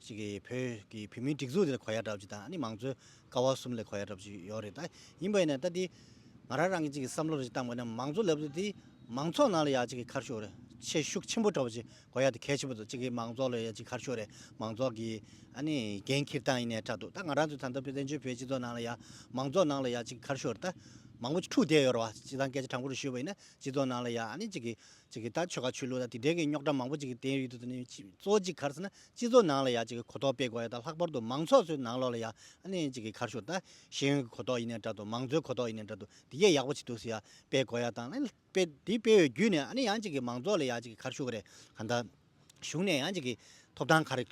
ཞིག་གིས་བོད་ཀྱི་བོད་མིའི་སྒྲིག་འཛུགས་དེ་ལ་གོ་ཡ་བསྒྲགས་བྱེད་དང་ནི་མང་གཙོའི་ཀ་བ་གསུམ་ལ་གོ་ཡ་བསྒྲགས་བྱེད་ཡོད་རེད་ད། ཡིན་པས་ན་ད་དེ་ང་རང་རང་གི་གཅིག་གི་བསམ་བློ་རེ་བཏང་བས་ན་མང་གཙོ་ལབ་དུས་དེ་མང་ཚོགས་ནང་ལ་ཡ་གཅིག་གི་ཁར་ཤུགས་རེ་ཆེ་ཤུགས་ཆེན་པོ་འགྲོ་བ་ཆེ་གོ་ཡ་དེ་གལ་ཆེན་པོ་འདུག་གཅིག་གི་མང་ཚོགས་ལ་ཡ་གཅིག་ཁར་ཤུགས་རེ་མང་ཚོགས་ཀྱི་ཨ་ནི་འགན་འཁྱེར་སྟངས་ཡིན་ནའི་དྲག་འདུག་ད་ང་རང་ཚོའི་ད་ལྟ་བོད་བཙན་བྱོལ་བོད་སྤྱི་ཚོགས་ནང་ལ་ཡ་མང་ཚོགས་ནང་ལ་ཡ་གཅིག་གི་ཁར་ཤུགས་རེ་ད་མང་པོ་འཁྲུགས་བསྡད་ཡོད་རེད་བ་སྤྱི་དང་སྐད་ཆ་དྲང་པོ་རེ་ཞུས་བས་ན་སྤྱི་ཚོགས་ནང་ལ་ཡ་ཨ་ནི་གཅིག་གི་གཅིག་གི་ད་ཆོལ་ཁ་ཆོས་ལུགས་ད་དེ་འདྲའི་གི་རྙོག་དྲ་མང་པོ་ཅིག་གི་དེའི་ཡུལ་དུ་ད་ནི་གཙོ་བོ་གཅིག་གར་ཟེར་ན་སྤྱི་ཚོགས་ནང་ལ་ཡང་གོ་རྟོགས་སྤེལ་དགོས་ཡོད་ད་ལྷག་པར་དུ་མང་ཚོགས་ཚོའི་ནང་ལོགས་ལ་ཡང་ཁར་ཤུགས་དང་ཤེས་ཡོན་གྱི་གོ་རྟོགས་ཡིན་ནའི་འདྲ་དུ་མང་གཙོའི་གོ་རྟོགས་ཡིན་ནའི་འདྲ་དུ་དེ་གས་ཡག་པོ་བྱེད་དུས་སུ་ཡང་སྤེལ་དགོས་ཡ་དང། དེ་སྤེལ་བའི་བརྒྱུད་ནས་ཡང་མང་ཚོགས་ལ་ཡང་ཁར་ཤུགས་རེ་ག་ད་ཞུགས་ནས་ཡང་ཐོབ་ཐང་ག་རེ་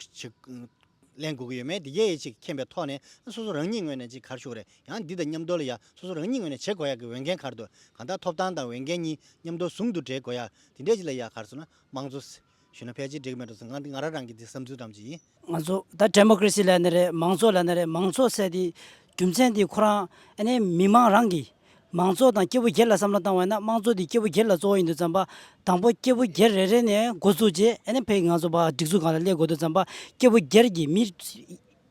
ལེན་དགོས་ཀྱི་ཡོད་མེད་དེ་གས་མཁྱེན་པའི་ཐོག་ནས་སོ་སོ་རང་ཉིད་ངོས་ནས་ཁར་ཤུགས་རེ་ཡང་འདི་དང་མཉམ་དུ་ལ་ཡང་སོ་སོ་རང་ཉིད་ངོས་ནས་བྱེད་དགོས་ཡག་གི་འོས་འགན་གར་དུ་ག་ད་ཐོབ་ཐང་དང་འོས་འགན་གཉིས་མཉམ་དུ་ཟུང་དུ་འབྲེལ་དགོས་ཡག་དེ་འདྲས་ལ་ཡང་གར་སོང་ན་དམངས་གཙོ། ཞུས་ན་ཕལ་ཆེར་འགྲིག་གི་མེད་འགྲོ་ཟེར་ང་འདི་ང་རང་རང་གི་འདི་བསམ་ཚུལ་ཙམ་ཞིག་ཡིན། ང་ཚོ་ད Democracy ལས་ནི་རེད་མང་གཙོ་ལས་ནི་རེད་མང་གཙོ་ཟེར་དེ་རྒྱུ་མཚན་དེ་ཁོ་རང་ཨནེ་མི་དམངས་རང་གི་མང་གཙོ་དང་སྐྱེ་བོ་སྒེར་ལ་བསམ་བློ་བཏང་བས་ན་དམངས་གཙོ་དེ་སྐྱེ་བོ་སྒེར་ལ་གཙོ་བོ་ཡིན་དུ་བརྩམས་པ་དང་པོ་སྐྱེ་བོ་སྒེར་རེ་རེ་ནས་འགོ་བཙུགས་རྗེས་ཨནེ་ཕའི་ང་ཚོ་བ་སྒྲིག་འཛུགས་གང་ལ་སླེབས་དགོས་དུ་བརྩམས་པ་སྐྱེ་བོ་སྒེར་གྱི་མི་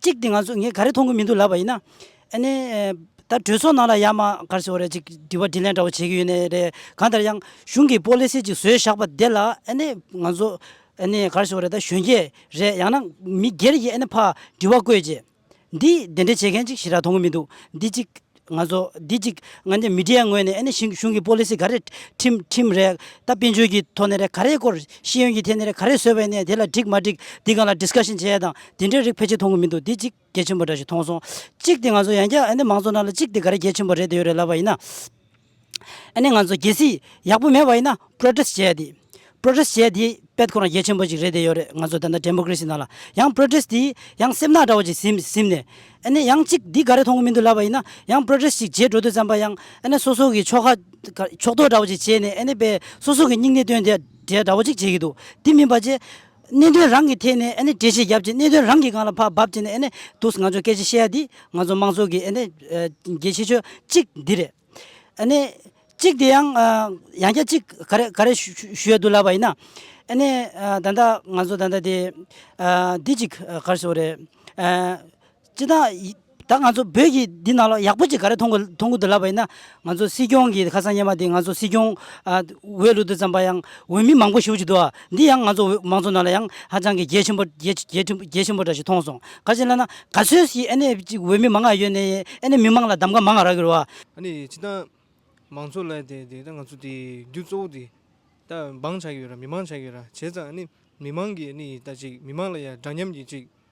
གཅིག་དེ་ང་ཚོ་ངས་ག་རེ་མཐོང་གི་མི་འདུག་ལབ་པ་ཡིན་ན། ཨ་ནི། ད་གྲོས་ཚོགས་ནང་ལ་ཡར་མར་གར་སོང་བ་རེད་ཅིག་དྲི་བ་དྲིས་ལན་འདྲ་བོ་བྱེད་ཀྱི་ཡོད་ནི་རེད། གང་ལྟར་ཡང་གཞུང་གི་པོ་ལི་སི་ཅིག་བཟོས་བཞག་པ་དེ་ལ་ཨ་ནི་ང་ཚོ། ཨ་ནི་གར་སོང་བ་རེད་ད་གཞོན་སྐྱེས་རེད་ཡང་ན་མི་སྒེར་གྱིས་ཨ་ནི་ཕ་དྲི་བ་བཀོད་རྗེས། འདི་དེ་འདྲས་བྱེད་མཁན་ཅིག་ཞི་རགས་མཐོང་གི་མི་འདུག་འདི་གཅིག། ང་ཚོ་འདི་གཅིག་ང་འདི་མི་འདྲའི་ངོས་ནས་ཨནི་ཞིང་གཞུང་གི་པོ་ལི་སི་ག་རེ་ཁྲིམས་ཁྲིམས་རེད་ད་དཔེ་འཇོལ་གྱི་ཐོག་ནས་རེད་ག་རེའི་སྐོར་ཤེས་ཡོན་གྱི་ཐད་ནས་རེད་ག་རེ་བཟོས་པའི་ནས་དེ་ལ་འགྲིག་མ་འགྲིག་འདི་གང་ལ Discussion བྱས་དང་འདི་འདྲའི་རིགས་ཕལ་ཆེར་མཐོང་གི་མི་འདུག་འདི་གཅིག་གལ་ཆེན་པོ་འདྲ་ཞིག་མཐོང་སོང་གཅིག་དེ་ང་ཚོ་ཡང་བསྐྱར་ཨནི་མང་གཙོ་ནང་ལ་གཅིག་དེ་ག་རེ་གལ་ཆེན་པོ་རེད་དེ་ཡོད་རེད་ལབ་པ་ཡིན་ན། ཨ་ནི་ང་ཚོ་རྒྱལ་སྲིད་ཡག་པོ་མེད་པ་ཡིན་ན Protest བྱེད་ཡ་དེ། Protest བྱེད་དེ་པད་ཁོ་རང་རྒྱལ་ཆེན་པོ་ཅིག་རེད་དེ་ཡོད་རེད་ང་ཚོ་ད་ལྟ Democracy ནང་ལ་ཡང Protest དེ་ཡང་སེམས་ནག་འདྲ་བོ་ཅིག་སིམ་སིམ་ནས། ཨ་ནི་ཡང་ཅིག་འདི་ག་རེ་མཐོང་གི་མི་འདུག་ལབ་པ་ཡིན་ན་ཡང Protest ཅིག་བྱེད་འགྲོ་དུས་ཙམ་པ་ཡང་ཨ་ནི་སོ་སོ་གི་ཕྱོགས་ཁ་ཕྱོགས་གཏོགས་འདྲ་བོ་ཅིག་བྱེད་ནས་ཨ་ནི་པས་སོ་སོ་གི་སྙིང་ནད་སྟོན་བསྡད་འདྲ་བོ་ཅིག་བྱེད་ཀྱི་འདུག་དེ་མིན་པ་ཅི། གནད་དོན་རང་གི་ཐད་ནས་འགྲེལ་བཤད་བརྒྱབ་ཅིང་གནད་དོན་རང་གི་སྒང་ལ་བབ་བབ་ཅིག་ནས་འདུག་ང་ཚོས་སྐད་ཆ་བཤད་ཡ་འདི་ང་ཚོ་དམངས་གཙོ་གི་རྒྱལ་ཆེ་ཆོས་གཅིག་འདི་རེད། གཅིག་དེ་ཡང་ཡང་བསྐྱར་གཅིག་ག་རེ་ག་རེ་ཞུ་ཡ་འདུག་ལབ་པ་ཡིན་ན། ད་ལྟ་ང་ཚོ་ད་ལྟ་དེ་འདི་གཅིག་ག་རེ་ཟེར་བ་རེད། སྤྱི་བཏང། ད་ང་ཚོ་བོད་ཀྱི་འདི་ནང་ལོག་ཡག་པོ་ཅིག་ག་རེ་མཐོང་གི་མཐོང་གི་འདུག་ལབ་པ་ཡིན་ན། ང་ཚོ་སྲིད་སྐྱོང་གི་ཁ་སང་ཉན་པ་དེ་ང་ཚོ་སྲིད་སྐྱོང། འོས་བླུགས་འདི་ཙམ་པ་ཡང་འོས་མི་མང་པོ་ཞུགས་ཀྱི་འདུག་ཨ། འདི་ཡང་ང་ཚོ་མང་ཚོགས་ནང་ལ་ཡང་ཧ་ཅང་གི་རྒྱས་ཆེན་པོ་རྒྱས་ཆེན་པོ་འདྲ་ཞིག་མཐོང་སོང། ག་ཅིག་ལ་ན་ག་ཚོད་ཞིག་ཨ་ནི་ཅིག་འོས་མི་མང་ང་ཡོད་ནི་ཨ་ནི་མི་མང་ལ་གདམ་ག་མང་ང་རག་གི་རོ་ཨ། ཨ་ནི་ཅི་ད། མང་ཚོགས་ལ་དེ་དེ་ད་ང་ཚོ་དེ་རྒྱུ་གཙོ་བོ་དེ། ད་འབངས་ཆགས་ཀྱི་ཡོད་ར་མི་མང་ཆགས་ཀྱི་ཡོད་ར་བྱས་ཙང་ཨ་ནི་མི་མང་གི་ཨ་ནི་ད་ཅིག་མི་མང་ལ་ཡང་འདྲ་མཉམ་གྱི་ཅིག་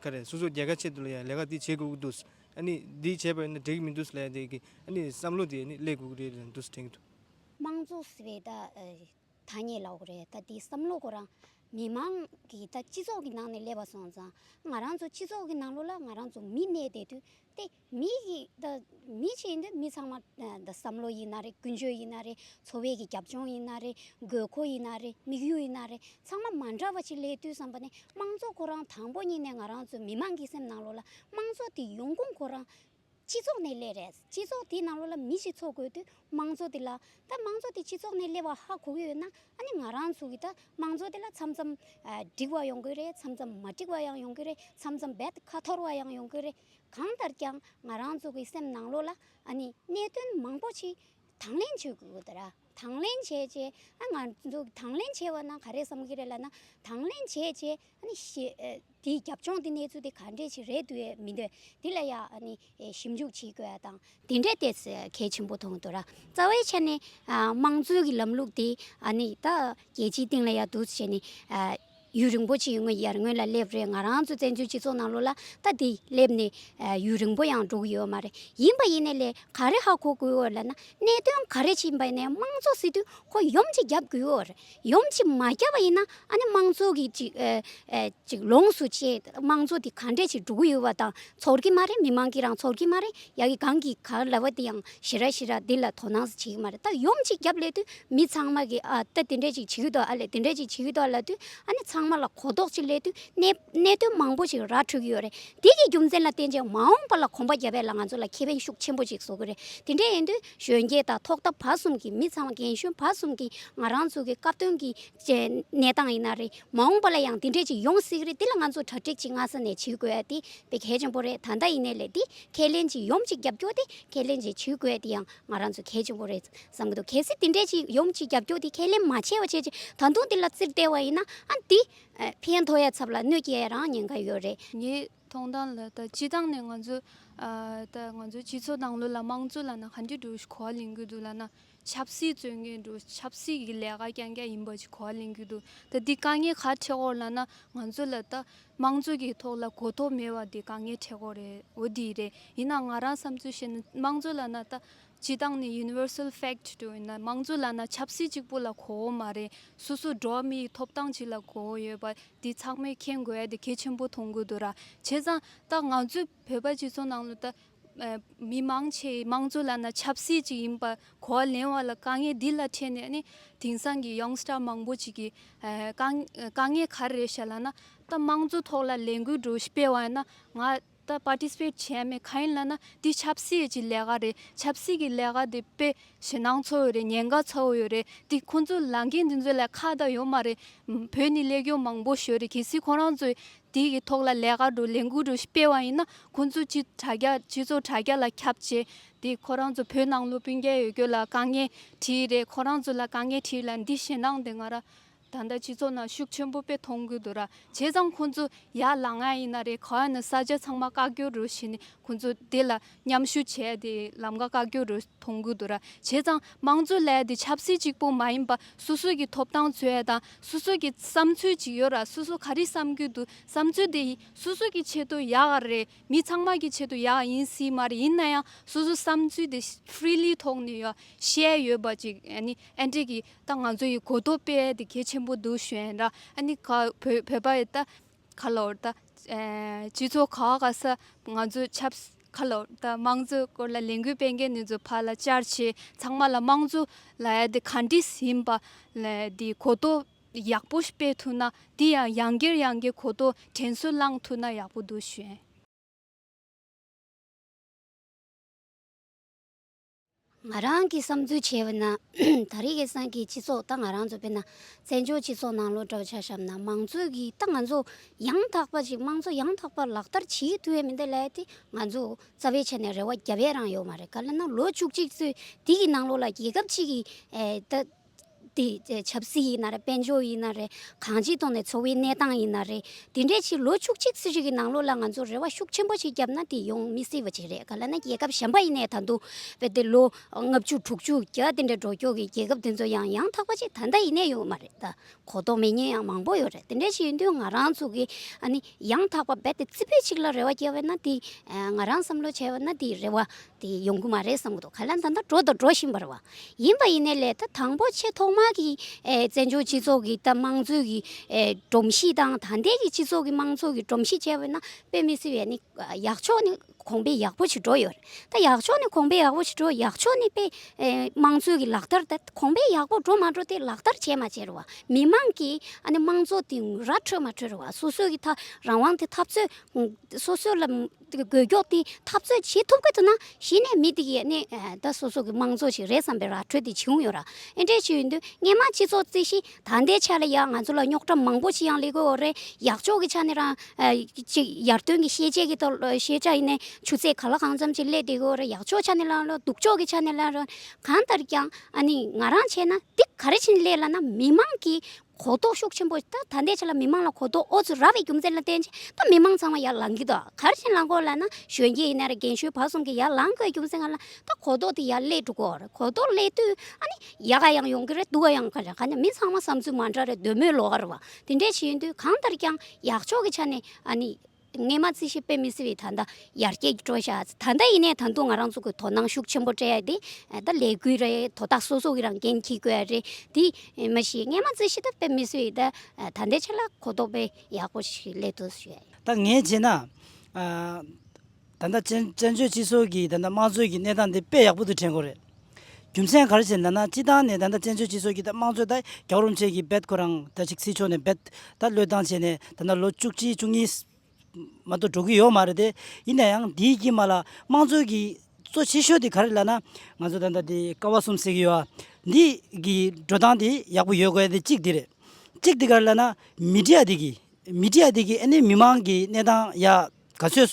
ཁ་རེད་སོ་སོ་རྒྱལ་ཁ་ཆེད་དུ་ལ་ཡང་ལས་ཀ་འདི་བྱེད་དགོས་འདུག་ཨ་ནི་འདི་བྱས་པས་ན་འགྲིག་མི་འདུག་ལ་ཡང་དེ་གི་ཨ་ནི་བསམ་བློ་དེ་ནི་སླེབས་དགོས་རེད་འདུག་དྲན་གི་འདུག། དམངས་གཙོ་ཟེར་བའི་ད་ཐ་སྙད་ལ་འོ་རེད་ད་དེ་བསམ་བློ་ཁོ་རང་མི་མང་གི་ད་སྤྱི་ཚོགས་ཀྱི་ནང་ནས་སླེབས་པ་སོང་ཙང་ང་རང་ཚོ་སྤྱི་ཚོགས་ཀྱི་ནང་ལོགས་ལ་ང་རང་ཚོ་མི་གནས་བསྡད་དུས་དེ་མི་ཞིག་འདི་མི་ཞིག་འདི་མི་ཚང་མ་འདི་བསམ་བློ་ཡིན་ན་རེད་ཀུན་སྤྱོད་ཡིན་ན་རེད་འཚོ་བའི་གི་རྒྱབ་ལྗོངས་ཡིན་ན་རེད་དགོས་མཁོ་ཡིན་ན་རེད་དམིགས་ཡུལ་ཡིན་ན་རེད་ཚང་མ་མ་འདྲ་བ་ཞིག་ལས་དུས་བསམ་པ་ནི་དམངས་གཙོ་ཁོ་རང་དང་པོ་ཉིད་ནས་ང་རང་ཚོའི་མི་དམངས་ཀྱི་སེམས་ནང་ལོགས་ལ་དམངས་གཙོ་དེ་ཡོང་གོང་ཁོ་རང་སྤྱི་ཚོགས་ནས་སླེ་རེད་སྤྱི་ཚོགས་དེ་ནང་ལོགས་ལ་མི་ཞིག་འཚོ་དགོས་དུས་དམངས་གཙོ་དེ་ལ་ད་དམངས་གཙོ་དེ་སྤྱི་ཚོགས་ནས་སླེ་བ་ཧ་གོ་གི་ཡོད་ན་ཨ་ནི་ང་རང་ཚོ་གི་ད་དམངས་གཙོ་དེ་ལ་ཚམ་ཚམ་འགྲིག་བ་ཡོང་གི་རེད་ཚམ་ཚམ་མ་འགྲིག་བ་ཡང་ཡོང་གི་རེད་ཚམ་ཚམ་བད་ཁ་འཐོར་བ་ཡང་ཡོང་གི་རེད། གང་ལྟར་ཀྱང་ང་རང་ཚོ་གི་སེམས་ནང་ལོགས་ལ་ཨ་ནི་གནད་དོན་མང་པོ་ཞིག་དང་ལེན་བྱེད་དགོས་ཀྱི་རེད། དང་ལེན་བྱས་རྗེས་ཨ་ང་ཚོ་དང་ལེན་བྱས་བ་ན་ག་རེ་བསམ་གྱི་རེད་ལ་ན་དང་ལེན་བྱས་རྗེས་ཨ་ནི་དེའི་རྒྱབ་ལྗོངས་དེ་གནས་ཚུལ་དེ་ག་འདྲས་ཞིག་རེད་འདོད་མི་འདོད་དེ་ལ་ཡང་ཨ་ནི་ཞིབ་འཇུག་བྱེད་དགོས་ཡ་དང། དེ་འདྲས་དེ་གལ་ཆེན་པོ་མཐོང་གི་འདུག་ར་རྩ་བའི་ཆ་ནས་དམངས་གཙོའི་གི་ལམ་ལུགས་དེ་ཨ་ནི་ད་རྒྱལ་སྤྱིའི་སྟེང་ལ་ཡང་འདུག་བྱས་ནས། ཡུན་རིང་པོ་ཕྱིན་ཡོད་ངོས་ཡར་སྔོན་ལ་སླེབས་རེས་ང་རང་ཚོ་བཙན་བྱོལ་སྤྱི་ཚོགས་ནང་ལོགས་ལ་ད་དེ་སླེབས་ནས་ཡུན་རིང་པོ་ཡང་འགྲོ་གི་ཡོད་མ་རེད་ཡིན་པ་ཡིན་ནས་ལས་ག་རེ་ཧ་གོ་དགོས་འོས་ལ་ན་གནད་དོན་ག་རེ་ཕྱིན་པ་ཡིན་ནས་དམངས་ཚོགས་སྲིད་དོན་ཁོ་ཡོམ་ཅིག་རྒྱབ་དགོས་འོས་རེད་ཡོམ་ཅིག་མ་རྒྱབ་པ་ཡིན་ན་ཨ་ནི་དམངས་ཚོགས་ཀྱི་ཅིག་ཅིག་ལོངས་སུ་སྤྱད་དམངས་ཚོགས་དེ་ག་འདྲས་ཅིག་འགྲོ་གི་ཡོད་པ་དང་ཚོར་གི་མ་རེད་མི་དམངས་ཀྱི་རང་ཚོར་གི་མ་རེད་ཡ་གི་གང་གིས་གར་ལབ་བ་དེ་ཡང་ཞི་ར་ཞི་ར་འདི་ལ་དོ་སྣང་ཟིག་བྱེད་ཀྱི་མ་རེད་ད་ཡོམ་ཅིག་རྒྱབ་ལས་དུས་མི་ཚང་མ་གིས་ཨ་ད་དེ་འདྲས་ཅིག་བྱེད་ཀྱི་འདུག་ཨ་ལས་དེ་འདྲས་ཅིག་བྱེད་ཀྱི་འདུག་ལབ་དུས་ཨ་ནི་ཚང་མ་ལ་གོ་རྟོགས་ཅིག་སླེབས་དུས་གནད་གནད་དོན་མང་པོ་ཞིག་ར་འཕྲོད་ཀྱི་ཡོད་རེད་དེ་གི་རྒྱུ་མཚན་ལ་བརྟེན་རྗེས་མ་འོངས་པ་ལ་གོམ་པ་རྒྱག་པའི་ལ་ང་ཚོ་ལ་ཁེ་ཕན་ཤུགས་ཆེན་པོ་ཅིག་བཟོ་གི་རེད་དེ་འདྲས་ཡིན་དུས་གཞོན་སྐྱེས་དང་ཐོག་མཐའ་བར་གསུམ་གྱི་མི་ཚང་མ་རྒན་གཞོན་བར་གསུམ་གྱིས་ང་རང་ཚོ་གི་སྐབས་དོན་གྱི་ཅེས་གནས་སྟངས་ཡིན་ན་རེད་མ་འོངས་པ་ལ་ཡང་དེ་འདྲས་ཅིག་ཡོང་སྲིད་རེད་དེ་ལ་ང་ཚོ་གྲ་སྒྲིག་ཅིག་སྔ་ས་ནས་བྱེད་དགོས་ཡ་དེ་དཔེ་གལ་ཆེན་པོ་རེད་ད་ལྟ་ཡིན་ནའི་ལས་དེ་ཁས་ལེན་ཅིག་ཡོང་ཅིག་རྒྱབ་སྐྱོར་དེ་ཁས་ལེན་ཅིག་བྱེད་དགོས་ཡ་དེ་ཡང་ང་རང་ཚོ་གལ་ཆེན་པོ་རེད་བསམ་གི་འདུག་གལ་སྲིད་དེ་འདྲས་ཅིག་ཡོང་ཅིག་རྒྱབ་སྐྱོར་དེ་ཁས་ལེན་མ་བྱས་བ་བྱས་ཅིག་ད་དུང་དེ་ལ་བཙིར་བསྡད་བ་ཡིན་ན་ཨ་དེ་ཕན་ཐོགས་ཡ་ཚབ་ལ་གནོད་ཀྱི་ཡ་རང་ཉེན་ཁ་ཡོད་རེད། ངའི་མཐོང་སྟངས་ལ་ད་སྤྱི་བཏང་ནས་ང་ཚོ་ད་ང་ཚོ་སྤྱི་ཚོགས་དང་ལུས་ལ་དམངས་གཙོ་ལ་ན་ག་འདྲས་འགྲོ་གི་གོ་བ་ལེན་གི་འདུག་ལ་ན་ཆབ་སྲིད་རྩོད་མཁན་དུ་ཆབ་སྲིད་ཀྱི་ལས་ཀ་རྐྱང་རྐྱང་ཡིན་པ་ཞིག་གོ་བ་ལེན་གྱི་འདུག་ད་འདི་དཀའ་ངལ་ག་འཕྲད་གོ་ལ་ན་ང་ཚོ་ལ་ད་དམངས་གཙོ་གྱི་ཐོག་ལ་གོ་ཐོབ་མེད་བ་འདི་དཀའ་ངལ་འཕྲད་གོ་རེད་འོ་འདི་རེད་ཡིན་ན་ང་རང་བསམ་ཚུལ་བཤད་ན་དམངས་གཙོ་ལ་ན་ད་སྤྱི་དང་ནི universal fact དུ་ཡིན་ན་དམངས་གཙོ་ལ་ན་ཆབ་སྲིད་གཅིག་པོ་ལ་གོ་བོ་མ་རེད་སོ་སོ་འགྲོ་བ་མི་ཡི་ཐོབ་ཐང་གཅིག་ལ་གོ་བོ་ཡོད་པ་འདི་ཚང་མས་མཁྱེན་དགོས་ཡ་འདི་གལ་ཆེན་པོ་མཐོང་གི་འདུག་ར་བྱས་ཙང་ད་ང་ཚོའི་བོད་པ་སྤྱི་ཚོགས་ནང་ལ་ད་མི་མང་ཆེ་ཡིས་དམངས་གཙོ་ལ་ན་ཆབ་སྲིད་ཅིག་ཡིན་པར་གོ་བ་ལེན་བ་ལ་དཀའ་ངལ་འདི་ལ་འཕྲད་ནས་ནི་དེང་སང་གི་ཡོང་སྟར་མང་པོ་ཅིག་གིས་དཀའ་ངལ་ག་རེ་རེད་བཤད་ལ་ན་ད་དམངས་གཙོ་ཐོག་ལ་ལས་འགུལ་འགྲོ་སྤེལ་བ་ཡིན་ན་ང་ད participate བྱས་མེད་གང་ཡིན་ལ་ན་འདི་ཆབ་སྲིད་ཀྱི་ལས་ཀ་རེད་ཆབ་སྲིད་ཀྱི་ལས་ཀ་འདི་དཔེ་ཞེ་སྣང་ཚོ་ཡོད་རེད་ཉེན་ཁ་ཚ་བོ་ཡོད་རེད་འདི་ཁོང་ཚོ་ལག་འགན་འདི་ཚོ་ལས་ཁ་བརྡ་ཡོད་མ་རེད་བོད་ནི་ཀླད་སྐྱོན་མང་པོ་ཞོས་རེད་གལ་སྲིད་ཁོང་རང་ཚོས་དེ་གི་ཐོག་ལ་ལས་ཀ་དྲུག་ལས་འགུལ་དྲུག་སྤེལ་བ་ཡིན་ན་ཁོང་ཚོ་སྤྱི་དྲ་རྒྱ་སྤྱི་ཚོགས་དྲ་རྒྱ་ལ་ཁྱབ་ཆེ་དེ་ཁོ་རང་ཚོ་བོད་ནང་ལོ་སྤུན་བརྒྱ་ཡོད་རྒྱུ་ལ་དཀའ་ངལ་དྲིས་རེད་ཁོ་རང་ཚོ་ལ་དཀའ་ངལ་དྲིས་ལ་འདི་ཞེད་སྣང་དེ་ང་ར་ད་ལྟ་སྤྱི་ཚོགས་ནང་ཤུགས་ཆེན་པོ་པེ་མཐོང་གི་འདུག་ར་བྱས་ཙང་ཁོང་ཚོ་ཡར་ལངས་ཡ་ཡིན་ན་རེད་ག་ཡ་ན་ས་ཆ་ཚང་མ་བཀག་རྒྱུ་རུ་བྱས་ནས་ཁོང་ཚོ་དེ་ལ་མཉམ་ཞུགས་བྱས་ཏེ་ལམ་ཀ་བཀག་རྒྱུ་རུ་མཐོང་གི་འདུག་ར་བྱས་ཙང་དམངས་གཙོའི་ལས་དེ་ཆབ་སྲིད་ཅིག་པོ་མ་ཡིན་པ་སོ་སོས་ཀྱི་ཐོབ་ཐང་ཚོད་དང་སོ་སོས་ཀྱི་བསམ་ཚུལ་ཅིག་ཡོད་ར་སོ་སོ་ག་རིགས་བསམ་གྱི་འདུག་བསམ་ཚུལ་དེ་སོ་སོ་ཀྱི་ཆེད་དུ་ཡག་རེད་མི་ཚང་མ་ཀྱི་ཆེད་དུ་ཡག་ཡིན་སྲིད་མ་རེད་ཡིན་ན་ཡང་སོ་སོ་བསམ་ཚུལ་དེ Freely ཐོག་ནས་ཡོད་བཤད་ཡོད་པ་ཅིག་ནི་ཨན་ཀྲིག་གིས་ད་ང་ཚོ་ཡི་གོ་ཐོབ་དཔེ་དེ་གལ་ཆེན་པོ་འདུག་བཞོན་ར་ཨ་ནི་ག་བོད་པ་ཡི་ད། ཁ་ལོ་ད། སྤྱི་ཚོགས་ཁག་ག་ས་ང་ཚོས་ཆབ་སྲིད། ཁ་ལོ་ད། དམངས་གཙོའི་སྐོར་ལ་ལས་འགུལ་སྤེལ་མཁན་ནི་ཚོ་ཕར་ལ་བཅར་བྱས་ཚང་མ་ལ་དམངས་གཙོ་ལ་ཡ་དེ་ག་འདྲི་ཟིན་པ་ལ་དེ་གོ་རྟོགས་ཡག་པོ་སྤེལ་ཐུབ་ན་དེ་ཡང་ཡང་སྒེར་ཡང་སྒེར་གོ་རྟོགས་དྲན་གསོ་བླངས་ཐུབ་ན་ཡག་པོ་འདུག་གཞོན། ང་རང་གིས་བསམ་ཚུལ་བྱས་པ་ན། ད་རེས་ཀྱི་སང་གི་སྤྱི་ཚོགས་ད་ང་རང་ཚོ་དཔེར་ན་བཙན་བྱོལ་སྤྱི་ཚོགས་ནང་ལོ་བཀྲ་བྱ་བཞག་ན་མང་གཙོའི་གི་ད་ང་ཚོ་ཡང་དག་པ་ཅིག་དམངས་གཙོ་ཡང་དག་པ་ལག་བསྟར་བྱེད་ཐུབ་ཡས་མིན་ད་ལས་དེ་ང་ཚོ་རྩ་བའི་ཆ་ནས་རེ་བ་བརྒྱ་བས་རང་ཡོད་མ་རེད་ག་ལེ་ན་ལོ་བཅུ་གཅིག་ཚོས་དེ་གི་ནང་ལོ་ལ་རྒྱལ་ཁབ་ཅིག་གི་ད། དེ་ཆབ་སྲིད་ཡིན་ན་རེད་དཔལ་འབྱོར་ཡིན་ན་རེད་གང་ཅིའི་ཐོག་ནས་འཚོ་བའི་གནས་སྟངས་ཡིན་ན་རེད་དེ་འདྲའི་ཆེད་ལོ་བཅུ་གཅིག་ཟེར་བཞིན་གྱི་ནང་ལོགས་ལ་ང་ཚོ་རེ་བ་ཤུགས་ཆེན་པོ་ཞིག་བརྒྱབ་ན་དེ་ཡོང་མི་སྲིད་པ་ཞིག་རེད་ག་ལ་ན་རྒྱལ་ཁབ་གཞན་པ་ཡིན་ནའི་ད་དུང་བལ་ཏེ་ལོ་ལྔ་བཅུ་དྲུག་ཅུ་གྱ་དེ་འདྲའི་འགྲོ་ཁྱོག་གི་རྒྱལ་ཁབ་དེ་ཚོ་ཡང་ཡང་དག་པ་ཅིག་ད་ལྟ་ཡིན་ནའི་ཡོད་མ་རེད་ད་གོ་རྟོགས་མེད་ཉེན་ཡང་མང་པོ་ཡོད་རེད་དེ་འདྲའི་ཞིག་ཡིན་དུས་ང་རང་ཚོ་གིས་ཡང་དག་པ་རྦད་དེ་རྩིས་པས་ཅིག་ལ་རེ་བ་བརྒྱབ་པས་ན་དེ་ང་རང་བསམ་བློ་བྱས་པ་ན་དེ་རེ་བ་དེ་ཡོང་གི་མ་རེད་བསམ་གི་འདུག་ག་ལ་ད་ལྟ་འགྲོ་དང་འགྲོ་བཞིན་པར་བ། ཡིན་པ་ཡིན་ནའི་ལས་ད་དང་པོ་ཆེས་ཐོག་མ་གི་བཙན་བྱོལ་སྤྱི་ཚོགས་ཀྱི་ད་དམངས་གཙོའི་གི་སྒྲོམ་གཞི་དང་ད་ལྟའི་གི་སྤྱི་ཚོགས་ཀྱི་དམངས་གཙོ་གི་སྒྲོམ་གཞི་བྱས་པ་ན་དཔེ་མི་སྲིད་པའི་ནི་ཡག་ཕྱོགས་ནི་གོང་འཕེལ་ཡག་པོ་བྱེད་འགྲོ་ཡོད་རེད་ད་ཡག་ཕྱོགས་ནི་གོང་འཕེལ་ཡག་པོ་བྱེད་འགྲོ་ཡག་ཕྱོགས་ནི་དཔེ་དམངས་གཙོའི་གི་ལག་བསྟར་ད་གོང་འཕེལ་ཡག་པོ་འགྲོ་མ་འགྲོ་དེ་ལག་བསྟར་བྱས་མ་བྱས་རེད་བ། མི་དམངས་ཀྱི་ཨ་ནི་དམངས་གཙོ་དེ་ངུ་ར་འཕྲོད་མ་འཕྲོད་རེད་བ་སོ་སོའི་གི་ཐ་རང་དབང་དེ་འཐབ་རྩོད་སོ་སོ་ལ། དགོས་མགྱོགས་ཏེ་འཐབ་རྩོད་བྱེད་ཐུབ་ཀི་ཐུབ་ན་གཞི་ནས་མི་དེ་གི་ནི་ད་སོ་སོ་གི་དམངས་གཙོ་ཞིག་རེད་བསམ་པའི་ར་འཕྲོད་དེ་བྱུང་ཡོད་ར་ཨེ་འདྲས་བྱུང་ཡོད་འདུག་སྔན་མ་སྤྱི་ཚོགས་རྩི་ཤིང་ད་ལྟའི་ཆ་ལ་ཡང་ང་ཚོ་ལ་རྙོག་གྲ་མང་པོ་ཞིག་ཡང་ལས་དགོས་འོ་རེད་ཡག་ཕྱོགས་ཀི་ཆ་ནས་རང་ཅིག་ཡར་ཐོན་གི་ཤེས་བྱའི་གི་ཐོག་ཤེས་བྱ་ཡི་ནས་ཆུ་ཚད་ག་ལ་གང་འཚམ་ཞིག་སླེབས་དེ་གི་འོ་རེད་ཡག་ཕྱོགས་ཆ་ནས་ལངས་རོགས་སྡུག་ཕྱོགས་གི་ཆ་ནས་ལངས་རོགས་གང་ལྟར་ཀྱང་ཨ་ནི་ང་རང་བྱས་ན་འདི་ག་རེ་བྱིན་སླེ་ལ་ན་མི་མང་གི་གོ་རྟོགས་ཤུགས་ཆེན་པོ་ད་ལྟའི་ཆ་ལ་མི་མང་ལ་གོ་རྟོགས་ཨོ་ཚུ་ར་བའི་རྒྱུ་མཚན་ལ་བརྟེན་ཅིང་ད་མི་མང་ཚང་མ་ཡར་ལངས་ཀྱི་འདུག་གར་ཆེན་ལ་མགོ་ལ་ན་གཞོན་སྐྱེས་ཡིན་ན་རེ་རྒན་གཞོན་བར་གསུམ་གྱི་ཡར་ལངས་དགོས་རྒྱུ་མཚན་ག་ལ་ད་གོ་རྟོགས་དེ་ཡར་སླེབས་འགྲོ་དགོས་རེད་གོ་རྟོགས་སླེབས་དུས་ཨ་ནི་ཡག་ག་ཡང་ཡོང་གི་རེད་སྡུག་ག་ཡང་ག་ཡང་མི་ཚང་མ་བསམ་ཚུལ་མ་འདྲ་རེད་འདོད་མོས་ལོག་ག་རེ་བ་དེ་འདྲས་བྱེད་ཡོད་དུས་གང་ལྟར་ཀྱང་ཡག་ཕྱོགས་ཀྱི་ཆ་ནས་ཨ་ནི། སྔས་མ་རྩི་ཤིང་དཔེ་མི་སྲིད་པའི་ད་ལྟ་ཡར་རྒྱས་ཀྱི་སྤྲོ་བཞག་ད་ལྟ་ཡིན་ནའི་ད་དུང་ང་རང་ཚོ་གི་དོ་སྣང་ཤུགས་ཆེན་པོ་སྤྲད་ཡ་དེ་ད་ལས་འགུལ་རེད་དོ་བདག་སོ་སོ་གི་རང་འགན་འཁྱིལ་དགོས་ཡ་རེད་དེ་མ་གཞི་སྔས་མ་རྩི་ཤིང་ད་དཔེ་མི་སྲིད་པའི་ད་ད་ལྟའི་ཆ་ལ་གོ་རྟོགས་དཔེ་ཡག་པོ་ཞིག་སླེབས་ཐུབ་ཞུ་ཡ། ད་ངས་བྱས་ན། ད་ད་བཙན་བྱོལ་སྤྱི་ཚོགས་ཀྱི་ད་ད་དམངས་གཙོའི་གི་གནས་སྟངས་དེ་དཔེ་ཡག་པོ་དུ་དྲན་དགོས་རེད། རྒྱུ་མཚན་ག་རེ་བྱེད་འདའ་ན་སྤྱི་བཏང་ནས་ད་ལྟ་བཙན་བྱོལ་སྤྱི་ཚོགས་ཀྱི་དམངས་གཙོ་དང་རྒྱག་རུང་བཅས་ཀྱི་འབད་ཁོ་རང་ད་ཅིག་སྲིད་ཕྱོགས་ནས་འབད་ད་བློས་བཏང་བྱས་ནས་ད་ལྟ་ལོ་བཅུ་གཅིག་བཅུ་གཉིས། མ་གཏོགས་འགྲོ་གི་ཡོད་མ་རེད་དེ་ཡིན་ན་ཡང་འདིའི་དཀྱིལ་མ་ལ་དམངས་གཙོའི་གི་གཙོ་ཆེ་ཤོས་དེ་ག་རེ་ལ་ན་ང་ཚོ་ད་ལྟ་དེ་ཀ་བ་གསུམ་བསྲེས་ཀྱི་ཡོད་ཨ། འདི་གི་འགྲོ་སྟངས་དེ་ཡག་པོ་ཡོད་དགོས་དེ་གཅིག་དེ་རེད། གཅིག་དེ་ག་རེ་ལ་ན་མི་འདྲེ་ཡ་དེ་གི་མི་འདྲེ་ཡ་དེ་གི་ཨ་ནི་མི་མང་གི་གནས་སྟངས་ཡ་ག་ཚོད།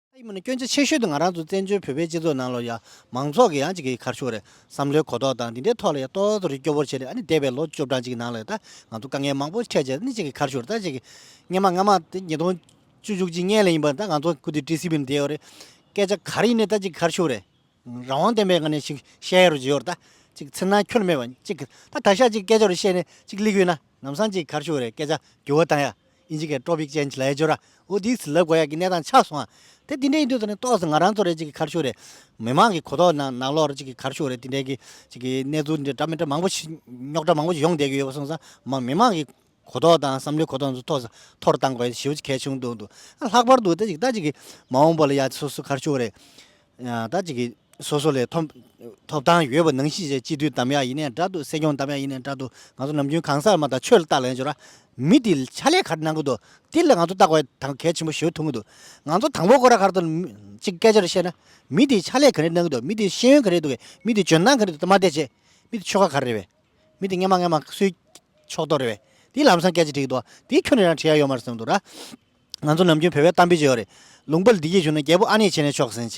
ད་ཡིན་མིན་སྐྱོན་ཆ་ཆེ་ཤོས་དེ་ང་རང་ཚོ་བཙན་བྱོལ་བོད་པའི་སྤྱི་ཚོགས་ནང་ལོ་ཡ་མང་ཚོགས་ཀྱི་ཡང་ཅིག་གི་ཁར་ཤོར་རེད་བསམ་བློའི་གོ་རྟོགས་དང་འདི་འདྲའི་ཐོག་ལ་ཡ་ཏོག་ཏོ་རེ་སྐྱོ་བོར་བྱས་རེད་ཨ་ནི་འདས་པའི་ལོ་བཅོ་བཀྲ་ཅིག་གི་ནང་ལ་ཡ་ད་ང་ཚོ་དཀའ་ངལ་མང་པོ་འཕྲད་རྗེས་ནི་ཅིག་གི་ཁར་ཤོར་རེད་ད་ཅིག་གི་སྔན་མ་སྔ་མ་དེ་ཉིས་སྟོང་བཅུ་བཅུ་གཅིག་སྔན་ལ་ཡིན་པ་ད་ང་ཚོ་སྐུ་དེ་བཀྲིས་སི་བིན་དེ་ཡོད་རེད་སྐད་ཆ་ག་རེ་ཡིན་ནས་ད་ཅིག་གི་ཁར་ཤོར་རེད་རང་དབང་བསྟན་པའི་ངང་ནས་ཤིག་བཤད་ཡ་རུ་བརྗེད་ཡོད་རེད་ད་ཅིག་གི་ཚེ་ན་ཁྱོད་ལ་སྨྲས་པ་ཅིག་གི་ད་ད་ཤ་ཅིག་གི་སྐད་ཆ་རུ་བཤད་ནས་ཅིག་གླིག་ཡོད་ན་ནམ་སང་ཅིག་གི་ཁར་ཤོར་རེད་སྐད་ཆ་དགེ་བ་དང་ཡ། ཨིན་ཇི་ཀའི་ཏྲོ་པིག་ཅན་གྱི་ལའི་ཇོ་ར་ཨོ་དིས་སི་ལབ་དགོས་ཡ་གི་གནས་སྟངས་ཆགས་སོང་ཨ། དེ་དེ་འདྲའི་ཡིན་དུས་ཚོ་ནི་ཏོག་ཟི་ང་རང་ཚོ་རེད་ཅིག་གི་གར་ཤོག་རེད། མི་མང་གི་གོ་ལྡོག་ནང་ནག་ལོག་རེད་ཅིག་གི་གར་ཤོག་རེད་དེ་འདྲའི་གི་ཅིག་གི་གནས་ཚུལ་འདི་འདྲ་མི་འདྲ་མང་པོ་ཞིག་རྙོག་དྲ་མང་པོ་ཞིག་ཡོང་བསྡད་ཀྱི་ཡོད་པ་སོང་ས་མ་མི་མང་གི་གོ་ལྡོག་དང་བསམ་བློའི་གོ་ལྡོག་ཚོ་མཐོ་ས་མཐོ་རུ་གཏང་དགོས་ཞེས་ཞེ་བོ་ཅིག་གལ་བྱུང་འདུག་འདུག་ཨ་ལྷག་པར་དུ་དེ་ཅིག་ལྟ་ཅིག་གི་མ་འོངས་པ་ལ་ཡ་ཚོ་སུ་གར་ཤོག་རེད། ད་ཅི་གི། སོ་སོ་ལས། ཐོབ་ཐང་ཡོད་པ་ནང་བཞིན་བྱས་སྤྱི་འཐུས་འདམ་ཡག་ཡིན་ནའི་འདྲ་འདུག་སྲས་སྐྱོང་འདམ་ཡག་ཡིན་ནའི་འདྲ་འདུག་ང་ཚོ་ནམ་རྒྱུན་གང་སར་མ་དང་ཆོས་ལ་བརྟག་ལེན་བྱོས་ར། མི་དེ་ཕྱ་ལས་ག་རེ་གནང་གི་འདུག་དེ་ལ་ང་ཚོ་བརྟག་བས་དང་གལ་ཆེན་པོ་ཞོལ་ཐུང་གི་འདུག་ང་ཚོ་དང་པོ་ཁོ་ར་གར་དུ། གཅིག་སྐད་ཆ་རེ་བཤད་ན། མི་དེ་ཕྱ་ལས་ག་རེ་གནང་གི་འདུག་མི་དེ་ཤེས་ཡོན་ག་རེ་འདུག་གས་མི་དེ་འཇོན་ཐང་ག་རེ་འདུག་ད་མ་བལྟས་བྱས། མི་དེ་ཆོལ་ཁ་ག་རེ་རེད་བས། མི་དེ་རྔན་མ་རྔན་མ་སུའི། ཕྱོགས་གཏོགས་རེད་བས། དེ་ལམ་སང་སྐད་ཆ་དྲིས་གི་འདུག་དེ་ཁྱོད་ནས་རང་དྲི་ཡ་ཡོད་མ་རེད་བསམ་གི་འདུག་ར། ང་ཚོ་ནམ་རྒྱུན་བོད་པའི་གཏམ་དཔེ་བརྗོད་ཡོད་རེད། ལུང་པ་ལ་བདེ་སྐྱིད་བྱུང་ན་རྒྱལ་པོ་ཨ་ནེ་བྱས་ནས་ཆོག་ཟེར།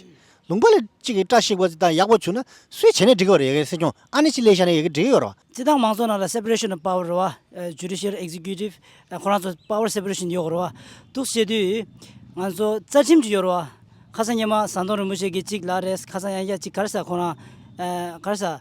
ལུང་པ་ལ་གཅིག་གིས་སྐྲ་བཤིག་པ་དང་ཡག་པོ་བྱུང་ན་སུས་བྱས་ནས་འགྲིག་གི་ཡོད་རེད་ཡ་གི་སྲིད་སྐྱོང་ཨ་ནེ་ཅི་ལས་བཞག་ནས་ཡ་གི་འགྲིག་གི་ཡོད་རེད། སྤྱི་བཏང་མང་ཚོགས་རྣམས་ལ Separation of Power རེད་བ། Judicial Executive ཁོ་རང་ཚོ Power Separation ཡོད་གི་རེད་བ། གཏུགས་བྱེད་དུས་ང་ཚོ་རྩ་ཁྲིམས་ཀྱི་ཡོད་རེད་བ། ཁ་སང་སྙེ་མ་ཟམ་གདོང་རིན་པོ་ཆེ་གི་གཅིག་ལགས་རེད་ཁ་སང་ཡང་ཡ་གཅིག་ག་རེ་ཟ་ཁོ་རང་ག་རེ་ཟ།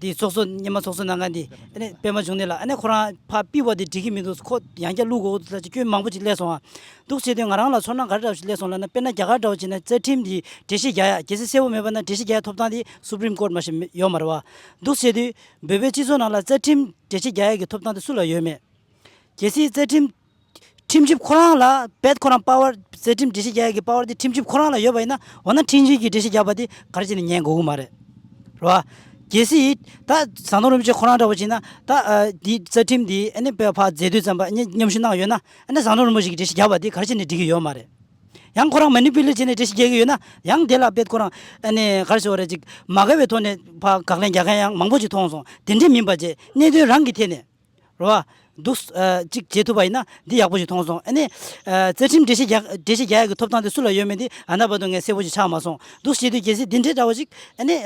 དེའི་ཚོགས་གཙོ་སྙེ་མ་ཚོགས་གཙོ་གནང་མཁན་དེ་སྤེལ་མ་བྱུང་ནས་ལ་ཁོ་རང་ཕ་པི་བ་དེ་འགྲིག་གི་མི་འདུག་ཁོ་ཡང་བསྐྱར་ལུག་གོ་ས་ཆ་སྐྱོན་མང་པོ་ཅིག་གླས་སོང་ཨ་འདུག་བྱས་དུས་ང་རང་ལ་ཚོར་སྣང་ག་རེ་འདྲ་བོ་ཞིག་གླས་སོང་ལ་ན་དཔེར་ན་རྒྱ་གར་འདྲ་བོ་བྱས་ན་རྩ་ཁྲིམས་དེ་འགྲེལ་བཤད་རྒྱ་ཡག་གལ་སྲིད་གསལ་བོ་མེད་པ་ན་འགྲེལ་བཤད་རྒྱ་ཡག་ཐོབ་སྟངས་དེ Supreme Court མ་ཞིག་ཡོད་མ་རེད་བ་འདུག་བྱས་དུས་བོད་པའི་སྤྱི་ཚོགས་ནང་ལ་རྩ་ཁྲིམས་འགྲེལ་བཤད་རྒྱ་ཡག་གི་ཐོབ་སྟངས་དེ་སུ་ལ་ཡོད་མེད་གལ་སྲིད་རྩ་ཁྲིམས། ཁྲིམས་ཞིབ་ཁོ་རང་ལ་བེད་ཁོ་རང་དཔའ་བར་ཟེར་ཁྲིམས་འགྲེལ་བཤད་རྒྱག་ཡ་གི་དཔའ་བར་དེ་ཁྲིམས་ཞིབ་ཁོ་རང་ལ་ཡོད་པ་ཡིན་ན་འོ་ན་ཁྲིན་ཆིན་གྱིས་འགྲེལ་བཤད་རྒྱག་པ་དེ་གར་བྱས་ནས་ཉན་དགོས་གི་མ་རེད་རེད་བ། གལ་སྲིད་ད་ཟང་ཟློང་རིན་པོ་ཆེ་ཁོ་རང་འདྲ་བོ་བྱས་ན་ད་འདི་རྩ་ཁྲིམས་འདི་ཨ་ནི་བེད་ཕ་མཛད་དུས་ཙམ་པ་ཨ་ནི་མཉམ་ཞུགས་གནང་ཡོད་ན་ཨ་ནི་ཟང་ཟློང་རིན་པོ་ཆེ་གི་འགྲེལ་བཤད་རྒྱག་པ་དེ་གར་བྱས་ནས་འགྲིག་གི་ཡོད་མ་རེད། ཡང་ཁོ་རང་མཱི་ནི་པི་ལེ་བྱས་ནས་འགྲེལ་བཤད་རྒྱག་གི་ཡོད་ན་ཡང་དེ་ལ་བེད་ཁོ་རང་ཨ་ནི་གར་བྱེད་བ་རེད་ཅིག་མ་དགའ་བའི་ཐོག་ནས་བག་ལན་རྒྱག་མཁན་ཡང་མང་པོ་ཞིག་མཐོང་སོང་དེ་འདྲས་མིན་པ་བཅས་གནད་དོན་རང་གི་ཐད་ནས། རེད། རེད་བ། འདུག། གཅིག་བྱེད་ཐུབ་པ་ཡིན་ན་འདི་ཡག་པོ་ཞིག་མཐོང་སོང་ཨ་ནི། རྩ་ཁྲིམས་འགྲེལ་བཤད་འགྲེལ་བཤད་རྒྱ་ཡག་གི་ཐོབ་ཐང་དེ་སུ་ལ་ཡོད་མེད་འདི་ཨ་ན་བ་དུ་ངས་གསལ་པོ་ཞིག་ཆགས་མ་སོང་འདུག་བྱས་དུས་གལ་སྲིད་འདི་འདྲའི་འདྲ་བ་ཞིག་ཨ་ནི།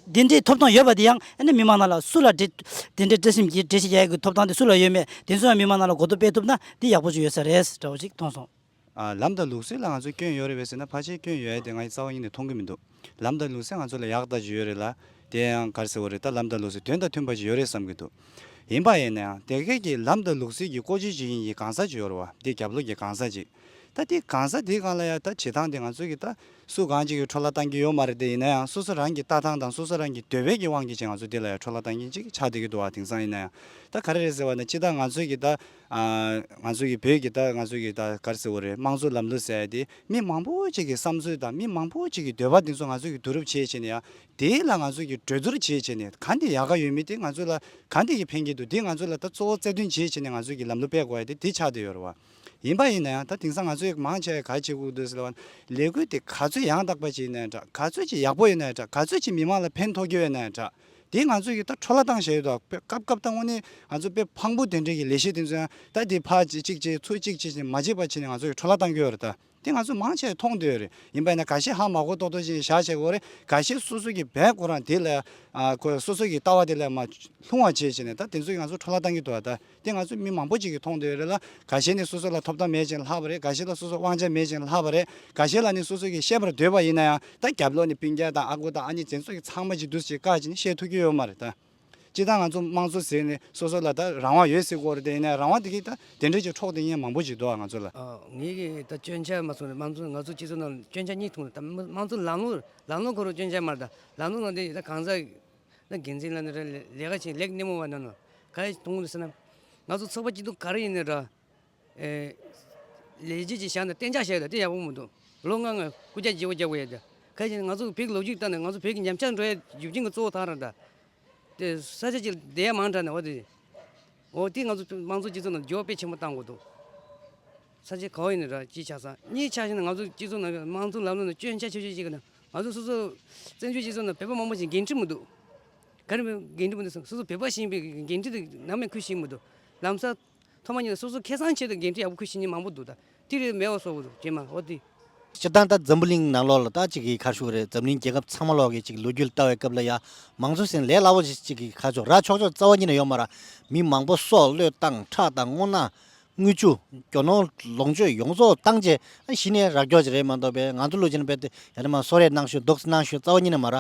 འདི་འདྲའི་ཐོབ་ཐང་ཡོད་པ་དེ་ཡང་ཨ་ནི་མི་མང་རྣམས་ལ་སུ་ལ་འདྲེ་འདི་འདྲའི་རྩ་ཁྲིམས་ཀྱི་འགྲེལ་བཤད་རྒྱ་ཡག་གི་ཐོབ་ཐང་དེ་སུ་ལ་ཡོད་མེད་དེ་ཚོ་ཡང་མི་མང་རྣམས་ལ་གོ་ཐུབ་སྤེལ་ཐུབ་ན་འདི་ཡག་པོ་ཞིག་ཡོད་ས་རེད་འདྲ་བ་ཞིག་མཐོང་སོང། ལམ་དང་ལུགས་སྲོལ་ལ་ང་ཚོའི་སྐྱོན་ཡོད་རེད་བས་ཟེར་ན་ཕ་ཆེའི་སྐྱོན་ཡོད་ཡ་དེ་ང་ཡི་རྩ་བ་སྙིང་ནས་མཐོང་གི་མི་འདུག་ལམ་དང་ལུགས་སྲོལ་ང་ཚོ་ལ་ཡག་ལྟ་ཅི་ཡོད་རེད་ལ། དེ་ཡང་གར་ཟེར་བོ་རེད་ད་ལམ་དང་ལུགས་སྲོལ་དོན་དང་མཐུན་པ་ཅི་ཡོད་རེད་བསམ་གི་འདུག་ཡིན་པ་ཡིན་ན་ཡང་དེ་སྐད་ཀྱི་ལམ་དང་ལུགས་སྲོལ་གྱི་བཀོལ་སྤྱོད་ཅིག་ཡིན་གྱི་གང་ཟག་ཅི་ཡོད་རེད་བ་དེ་རྒྱབ་ལོགས་ཀྱི་གང་ཟག་ཅིག་ད་དེ་གང་ཟག་དེ་གང་ལ་ཡང་ད་བྱེད་སྟངས་དེ་ང་ཚོ་གི་ད་སུ་གང་ཅིག་གི་འཕྲོ་བརླག་བཏང་གི་ཡོད་མ་རེད་དེ་ཡིན་ན་ཡང་སོ་སོ་རང་གི་ལྟ་སྟངས་དང་སོ་སོ་རང་གི་འདོད་བས་ཀྱི་དབང་གིས་ཅིག་ང་ཚོ་དེ་ལ་ཡང་འཕྲོ་བརླག་བཏང་གིན་ཅིག་ཆགས་བསྡད་ཀྱི་འདུག་བ་དེང་སང་ཡིན་ན་ཡང་ད་ག་རེ་རེད་ཟེར་བ་ན་ཅི་ད་ང་ཚོ་གི་ད་ང་ཚོ་ཡི་བོད་ཀྱི་ད་ང་ཚོ་ཡི་ད་གར་ཟེར་བ་རེད་དམངས་གཙོ་ལམ་ལུགས་ཟེར་དེ་མི་མང་པོ་ཅིག་གི་བསམ་ཚུལ་དང་མི་མང་པོ་ཅིག་གི་འདོད་པ་དེ་ཚོ་ང་ཚོ་ཡི་བསྡུ་རུབ་བྱས་བྱས་ནས་ཡ་དེ་ལ་ང་ཚོ་ཡི་གྲོས་བསྡུར་བྱས་བྱས་ནས་གང་དེ་ཡག་ག་ཡོད་མེད་དེ་ང་ཚོ་ལ་གང་དེ་ཡི་ཕན་གྱི་འདུག་དེ་ང་ཚོ་ལ་ད་གཙོ་བོ་རྩད་འདོན་བྱས་བྱས་ནས་ང་ཚོ་ཡི་ལམ་ལུགས་སྤེལ་དགོས་ཡ་དེ་དེ་ཆགས་དེ་ཡོད་རེད་བ། ཡིན་པ་ཡིན་ན་ཡང་ད་དེང་སང་ང་ཚོ་ཡི་མང་ཆེ་བ་ག་ཅིག་ཨུ་དུ་སི་ལ་བ་ལས་འགུལ་དེ་ག་ཚོད་ཡང་དག་པ་ཅིག་ཡིན་ན་ཡང་འདྲ་ག་ཚོད་ཅིག་ཡག་པོ་ཡིན་ན་ཡང་འདྲ་ག་ཚོད་ཅིག་མི་མང་ལ་ཕན་ཐོགས་རྒྱུ་ཡིན་ན་ཡང་འདྲ་དེ་ང་ཚོས་ཡོད་ད་འཕྲོ་བརླག་བཏང་བཞག་ཡོད་དོ། སྐབས་སྐབས་དང་དངོས་གནས་ང་ཚོ་དཔེ་ཕངས་པོ་དེ་འདྲའི་གི་ལས་བྱེད་དེ་ཚོའང་ད་དེ་ཕ་གཅིག་བྱེད་ཚོ་གཅིག་བྱེད་ཅེས་མ་བྱེད་པ་བྱེད་ནས་ང་ཚོ་ཡོད་འཕྲོ་བརླག་བཏང་གི་ཡོད་རེད་ད། དེ་ང་ཚོས་མང་ཆེ་བས་མཐོང་འདོད་ཡོད་རེད། ཡིན་པས་ན་ག་ཤེད་ཧ་མ་གོ་ཏོག་ཏོག་ཅིག་བཞག་བྱས་གོ་རེ་ག་ཤེད་སོ་སོ་གི་བས་གོ་རང་དེ་ལས། སོ་སོ་གི་ལྟ་བ་དེ་ལས་མ། ལྷུང་བ་བྱེད་བྱས་ནས་ད་དེ་ཚོ་ང་ཚོ་འཕྲོ་བརླག་བཏང་གི་འདུག་ད། དེ་ང་ཚོ་མི་མང་པོ་ཅིག་གིས་མཐོང་འདོད་རེད་ལ། ག་ཤེད་ནི་སོ་སོ་ལ་ཐོབ་ཐང་མེད་ཅིང་ལྷག་པ་རེད་ག་ཤེད་ལ་སོ་སོར་དབང་ཆ་མེད་ཅིང་ལྷག་པ་རེད་ག་ཤེད་ལ་ནི་སོ་སོ་གིས་ཤེས་པར་འདོད་པ་ཡིན་ན་ཡང། ད་རྒྱབ་ལོགས་ནས་སྤུན་རྒྱལ་དང་ཨ་ཁུ་དང་ཨ་མྱེས་ཅན་སོགས་ཀྱིས་ཚང་མ་ཅིག་བསྡུས་སུ་ཅིག་བཀག་ཅིག་ནི་བཤད་ཐུབ་ཀྱི་ཡོད་མ་རེད་ད། སྤྱིར་བཏང་ང་ཚོ་དམངས་གཙོ་ཟེར་ནས་སོ་སོ་ལ་ད་རང་དབང་ཡོད་སྲིད་སྐོར་དེ་ཡིན་ན་ཡང་རང་དབང་དེ་གིས་ད་དེ་འདྲས་ཀྱི་འཕྲོག་བསྟེན་ཡིན་མང་པོ་ཅིག་འདུག་ང་ཚོ་ལ། ངེད་ཀྱིས་ད་སྐྱོན་ཆ་མ་མཐོང་ནས་དམངས་གཙོ་ང་ཚོ་སྤྱི་ཚོགས་ནང་སྐྱོན་ཆ་གཉིས་མཐོང་ནས་ད་དམངས་གཙོ་ལམ་ལུགས་ལམ་ལུགས་སྐོར་ལ་སྐྱོན་ཆ་མ་རེད་ད་ལམ་ལུགས་ནང་དེ་ད་གང་ཟག། ན་འགན་འཛིན་ལ་ནི་རེད་ལས་ཀ་བྱེད་ལེགས་སྣེ་མོ་བ་ན་ནི་ག་ཡི་གཏོང་ཟེར་ན། ང་ཚོ་ཚོགས་པ་སྐྱིད་སྡུག་ག་རེ་ཡིན་ན་འདྲ། ལས་བྱེད་ཀྱི་ཞག་ནི་གཏན་འཇགས་བྱས་ཡོད་ད་དེ་ཡག་པོ་མི་འདུག་ལོ་ལྔ་ལྔ་སྐུ་ཕྱྭ་བརྗེ་བོ་རྒྱག་དགོས་ཡོད་ད། གལ་ཆེ་ན་ང་ཚོ་བོད་ཀྱི་ལོ་རྒྱུས་ལྟར་ན་ང་ཚོ་བོད་ཀྱི་ཉམས་ཆག་འགྲོ་ཡ་རྒྱུ་རྐྱེན་གྱི་གཙོ་བོ་ད་རེད་ད། དེ་ས་ཆ་གཅིག་བསྡད་ཡ་མང་དྲགས་ནས་འོ་དེ། འོ་དེ་ང་ཚོ་དམངས་གཙོ་སྤྱི་ཚོགས་ནང་འགྱོགས་སྤེལ་ཆེན་པོ་གཏང་དགོས་འདུག་ས་ཆ་ག་བ་ཡིན་ན་འདྲ་གཅིག་ཆགས་སང་གཉིས་ཆགས་ཤིང་ང་ཚོ་སྤྱི་ཚོགས་ནང་དམངས་གཙོ་ལམ་ལུགས་ནང་སྐྱོན་ཆ་ཆེ་ཆེ་ཞིག་གི་ན་ང་ཚོ་སོ་སོ་བཙན་བྱོལ་སྤྱི་ཚོགས་ནང་བོད་པ་མང་པོ་ཞིག་འགན་འཁྲི་མི་འདུག་ག་རེ་འགན་འཁྲི་མི་འདུག་སོ་སོ་བོད་པ་ཞིག་ཡིན་པའི་འགན་འཁྲི་དེ་ནམ་ཡང་འཁུར་བཞིན་མི་འདུག་ལམ་སང་ཐོག་མ་ཉིད་ནས་སོ་སོ་ཁེ་སང་ཆེད་དུ་འགན་འཁྲི་ཡག་པོ་འཁུར་བཞིན་ཉིན་མང་པོ་འདུག་ད་ཏི་རེ་མེ་འོ་སོ་འོ་ཇེ་མང་འོ་ཏི། སྤྱིར་བཏང་ད་འཛམ་བུ་གླིང་ནང་ལོག་ལ་ད་ཅིག་གི་ཁར་ཤུགས་རེད་འཛམ་གླིང་རྒྱལ་ཁབ་ཚང་མ་ལོག་གི་ཅིག་ལོ་རྒྱུས་ལྟ་བའི་སྐབས་ལ་ཡ་མང་ཚོ་ཟིན་ལས་སླ་བོ་ཞིག་གི་ཁར་ཆོག་ར་ཆོག་ཆོག་རྩ་བ་ཉིད་ནས་ཡོང་མ་ར་མི་མང་པོ་སྲོག་བློས་བཏང་ཁྲག་དང་སྔོ་ནག་དངུལ་ཆུ། རྒྱུ་ནོར། ལོངས་སྤྱོད་ཡོངས་རྫོགས་བཏང་རྗེས། གཞི་ནས་ར་སྐྱོར་བྱེད་རེས་མ་འདོར་པས་ང་ཚོ་ལུས་ཅན་དཔལ་དུ་ཡལ་ནས་མ་གསོ་རེས་གནང་ཞུ་རྡོག་གནང་ཞུ་རྩ་བ་ཉིད་ནས་མ་ར་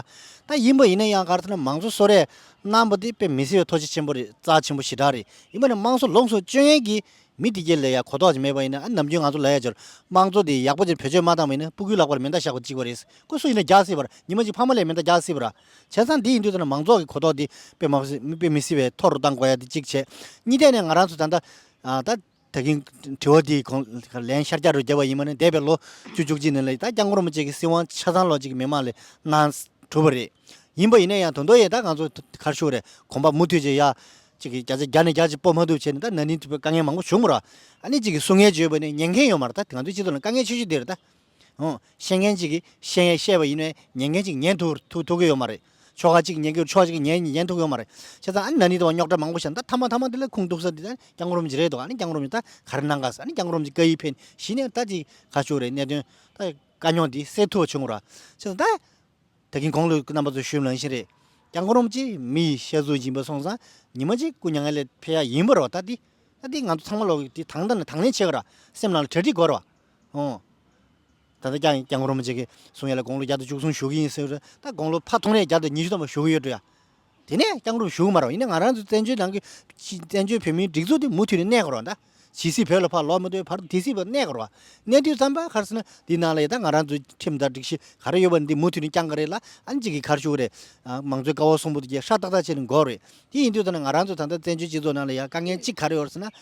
ད་ཡིན་པ་ཡིན་ན་ཡང་གར་ཐོན་ན་མང་གཙོ་གསོ་རེས་གནང་པ་དེ་དཔེ་མི་སྲིད་པའི་ཐོ་ཆེ་ཆེན་པོ་རེད་རྩ་ཆེན་པོ་ཞི་དྲག་རེད་ཡིན་པ་ནི་དམངས་གཙོ་ལོངས་སུ་སྤྱོད་མཁན་གྱི་མི་དེ་གྱི་ལས་ཡག་གོ་རྟོགས་ཅིག་མེད་པ་ཡིན་ན་ཨ་ནམ་རྒྱུན་ང་ཚོ་ལ་ཡ་འབྱོར་དམངས་གཙོ་དེ་ཡག་པོ་དེ་བེད་སྤྱོད་མ་བཏང་བ་ཡིན་ན་སྤུ་གུའི་ལག་པར་མེ་མདའ་བཞག་པ་གཅིག་པ་རེད་ཀོ་སུ་ཡིན་ན་རྒྱག་སྲིད་པར་ཉི་མ་གཅིག་ཕ་མ་ལས་མེ་མདའ་རྒྱག་སྲིད་པར། བྱས་ཙང་འདི་ཡིན་དུས་ད་ལྟ་མང་ཚོགས་ཀྱི་གོ་རྟོགས་འདི་དཔེ་མ་དཔེ་མི་སྲིད་པའི་མཐོ་རུ་གཏང་དགོས་ཡ་འདི་གཅིག་བྱས། གཉིས་ཐད་ནས་ང་རང་ཚོ་ད་ལྟ་ད་ད་གིན་དྲི་བ་འདིའི་གོང་ལན་ཤར་སྐྱ་རུ་བརྒྱབ་པ་ཡིན་མ་ནི་འདས་པའི་ལོ་བཅུ་བཅུ་གཅིག་ནས་ལ་ཡི་ད་སྐྱ་འགོར་མོ་བཅས་ཀྱི་སྲིད་དབང་ཆ་ཚང་ལོག་ཅིག་མི་མང་ལས་གནང་གྲུབ་པ་རེད། ཡིན་པ་ཡིན་ན་ཡང་དོན་དོ་ཡས་ད་ང་ཚོ་ཁར་ཤུགས་རེ་གོམ་པ་མུ་མཐུད་ཅིག་ཡ་ཅིག་གིས་རྒྱ་ཆ་རྒྱ་ནས་རྒྱ་ཆེ་པོ་མ་ཐུབ་བྱས་ནས་ད་ན་ནིང་དཀའ་ངལ་མང་པོ་བྱུང་ར་ཨ་ནི་གཅིག་གིས་སུ་ངལ་བརྗོད་པ་ནི་ཉན་མཁན་ཡོད་མ་ར་ད་ང་ཚོའི་སྤྱི་ཚོགས་ལ་དཀའ་ངལ་ཆེ་ཤོས་འདི་རེད་ད། བཤད་མཁན་གཅིག་གིས་བཤད་བཤད་པ་ཡིན་བས་ཉན་མཁན་གཅིག་ཉན་ཐུག་ཐུག་ཐུག་གི་ཡོད་མ་རེད། ཆོ་ག་གཅིག་ཉན་གི་ཆོ་ག་གཅིག་ཉན་ཉན་ཐུག་གི་ཡོད་མ་རེད། བྱས་ཙང་ཨ་ནི་ན་ནིང་ལྟ་བ་རྙོག་དྲ་མང་པོ་ཞིག་ད་ཐ་མ་ཐ་མ་འདི་ལ་ཁུངས་གཏུགས་ས་འདི་ད་རྐྱང་རོམ་གྱི་རེད་དོ་ཨ་ནི་རྐྱང་རོམ་གྱི་ད་ག་རེ་གནང་དཀའ་ས་ཨ་ནི་རྐྱང་རོམ་གྱི་བཀའ་ཡིག་འཕེན་གཞི་ནས་ད་ཅིག་ཁ་ཤོ་རེད་གནད་དོན་ད་དཀའ་རྙོག་འདི་སེལ་ཐུབ་པ་བྱུང་ར། བྱས་ཙང་ད། ད་གིན་གོང་ལོའི་རྣམ་པ་ཚོ་ཞུས་ལོན་བཞིན་རེད། རྐྱང་རོམ་གྱི་མི་ཡི་བཤད་ཚུལ་སྦྱིན་པ་སོང་ཙང་ཉི་མ་གཅིག་སྐུ་མྱ་ངན་ལས་འཕེལ་ཡག་ཡིན་པ་རེད་བ་ད་འདི། ད་འདི་ང་ཚོ་ཚང་མ་ལོག་གི་འདི་དང་ལེན་ཆེ་གི་ར་སེམས་ནང་ལ་གྲ་སྒྲིག་དགོས་ར་བ། ཨོ། ད་ལྟ་སྐྱག་ཡིན་སྐྱག་འཁོར་མོ་བྱེད་ཀྱི་སོང་ཡ་ལ་དགོང་ལོ་བརྒྱ་དང་བཅུ་གསུམ་བཞུགས་ཀྱི་ཡིན་ཟེར་བ་ད་དགོང་ལོ་ཕ་ཐུང་རེ་བརྒྱ་དང་ཉི་ཤུ་ཙམ་བཞུགས་ཀྱི་ཡོད་འགྲོ་ཡ། དེ་ནས་སྐྱག་འཁོར་མོ་བཞུགས་མ་རུང་ཡིན་ན་ང་རང་ཚོའི་བཙན་བྱོལ་ནང་གི་བཙན་བྱོལ་བོད་མིའི་སྒྲིག་འཛུགས་དེ་མུ་མཐུད་ནས་གནས་དགོས་རོགས་གདའ། ཇི་སྲིད་བོད་ལ་ཕ་ལོག་མི་ཐོན་བར་དུ་དེ་སྲིད་བར་གནས་དགོས་རོགས། གནས་དུས་བརྩམས་པ་ཁར་སོང་ན་འདི་ནང་ལ་ཡ་ད་ང་རང་ཚོའི་ཁྲིམས་ལྟར་སྒྲིག་གཞི་ག་རེ་ཡོད་པ་འདི་མུ་མཐུད་ནས་བསྐྱང་གི་རེད་ལ་ཨ་ནི་ཅིག་གི་ཁར་བཞུགས་རེད། མང་གཙོའི་ཀ་བ་གསུམ་པོ་དེ་རྒྱས་ཧྲག་ཏག་ཏག་བྱས་ནས་འགོག་རེད། དེ་ཡིན་དུས་ད་ནང་ང་རང་ཚོ་ད་ལྟ་བཙན་བྱོལ་སྤྱི་ཚོགས་ནང་ལ་ཡ་དཀའ་ངལ་ཅི་ག་རེ་ཡོད་རེད་ཟེར་ན།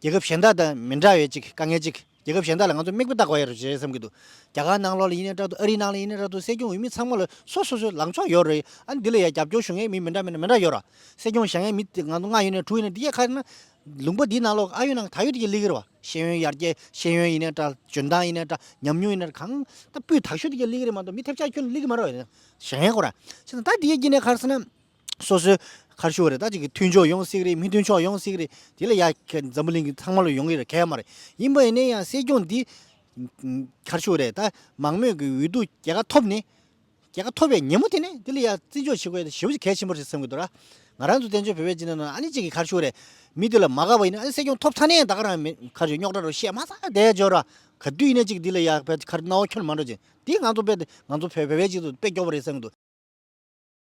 རྒྱལ་ཁབ་གཞན་དག་དང་མི་འདྲ་བའི་གཅིག་དཀའ་ངལ་གཅིག་རྒྱལ་ཁབ་གཞན་དག་ལ་ང་ཚོ་དམིགས་པ་བཏགས་པ་ཡོད་རེད་ཅེས་བསམ་གྱི་འདུག་རྒྱ་གར་ནང་ལོགས་ལ་ཡིན་ནས་བཀྲག་འདུག་ཨ་རིའི་ནང་ལ་ཡིན་ནས་བཀྲག་འདུག་སྲིད་སྐྱོང་འོས་མི་ཚང་མ་ལ་སོ་སོ་སོའི་ལངས་ཕྱོགས་ཡོད་རེད་ཨ་འདི་ལ་ཡང་རྒྱབ་སྐྱོར་ཞུ་མཁན་མི་མི་འདྲ་མིན་ན་མི་འདྲ་ཡོད་ར་སྲིད་སྐྱོང་བྱ་མཁན་མི་ང་ཚོ་ལྔ་ཡོད་ནས་དྲུག་ཡོད་ནས་འདི་ཡ་ཁ་ན། ལུང་པ་འདིའི་ནང་ལོགས་ཨ་ཡོད་ནང་ད་ཡོད་དེ་ཀྱི་ལི་ཁེར་བ་ཤེས་ཡོན་ཡར་རྒྱས་ཤེས་ཡོན་ཡིན་ནས་བཀྲག་འཇོན་ཐང་ཡིན་ནས་བཀྲག་ཉམས་མྱོང་ཡིན་ནས་བཀྲག་གང་ད་སྤུས་དག་ཤོས་དེ་ཀྱི་ལི་ཁེར་མ་གཏོགས་མི་ཐེབས་ཆག་ཁྱོད་ལི་ཁེར་མ་ར་བ་ཡོད་རེད་ཤེས་མཁན་ཁོ་ར་ཤེས་ད་འདི་ཡ་ཀྱི་ནས་ཁར་སོང་ན། སོ་སོའི་ཁར་ཤུ་བ་རེད་ད་ཅིག་གི་མཐུན་ཕྱོགས་ཡོང་སྲིད་གི་རེད་མི་མཐུན་ཕྱོགས་ཡོང་སྲིད་གི་རེད་དེ་ལ་ཡ་ཁྱེད་འཛམ་བུ་གླིང་གི་ཚང་མ་ལ་ཡོང་གི་རེད་ཁལ་མ་རེད་ཡིན་པ་ཡིན་ནའི་ཡང་སྲིད་སྐྱོང་འདི་ཁར་ཤུ་བ་རེད་ད་མང་མོས་ཀྱི་འོས་བསྡུ་རྒྱལ་ཁ་ཐོབ་ནས་རྒྱལ་ཁ་ཐོབ་པའི་ཉིན་མོ་དེ་ནས་དེ་ལ་ཡ་བརྩི་འཇོག་བྱེད་དགོས་ཡ་ཞེ་བོ་ཅིག་གལ་ཆེན་པོ་རེད་བསམ་གི་འདུག་ར་ང་རང་ཚོ་བཙན་བྱོལ་བོད་པའི་སྤྱི་ནང་ན་ཨ་ནི་ཅིག་གི་ཁར་ཤུ་བ་རེད་མི་དེ་ལ་མ་དགའ་བ་ཡིན་ན་ཨ་ནི་སྲིད་སྐྱོང་ཐོབ་ཚ་ནས་ད་ག་རང་མེད་ཁར་ཤུ་རྙོག་དྲ་རུ་བཤད་མ་ཚ་བསྡད་འཇོག་ར་ག་དུས་ཡིན་ན་ཅིག་འདི་ལ་ཡ་ཕལ་ཆེར་ཁར་གནའ་བོ་ཁྱོད་མ་འགྲོ་ཅིག་འདི་ང་ཚོ་དཔེ་ང་ཚོ་བོད་པའི་སྤྱི་ཚོགས་དཔེ་སྐྱོ་བོ་རེད་བསམ་གི་འདུག།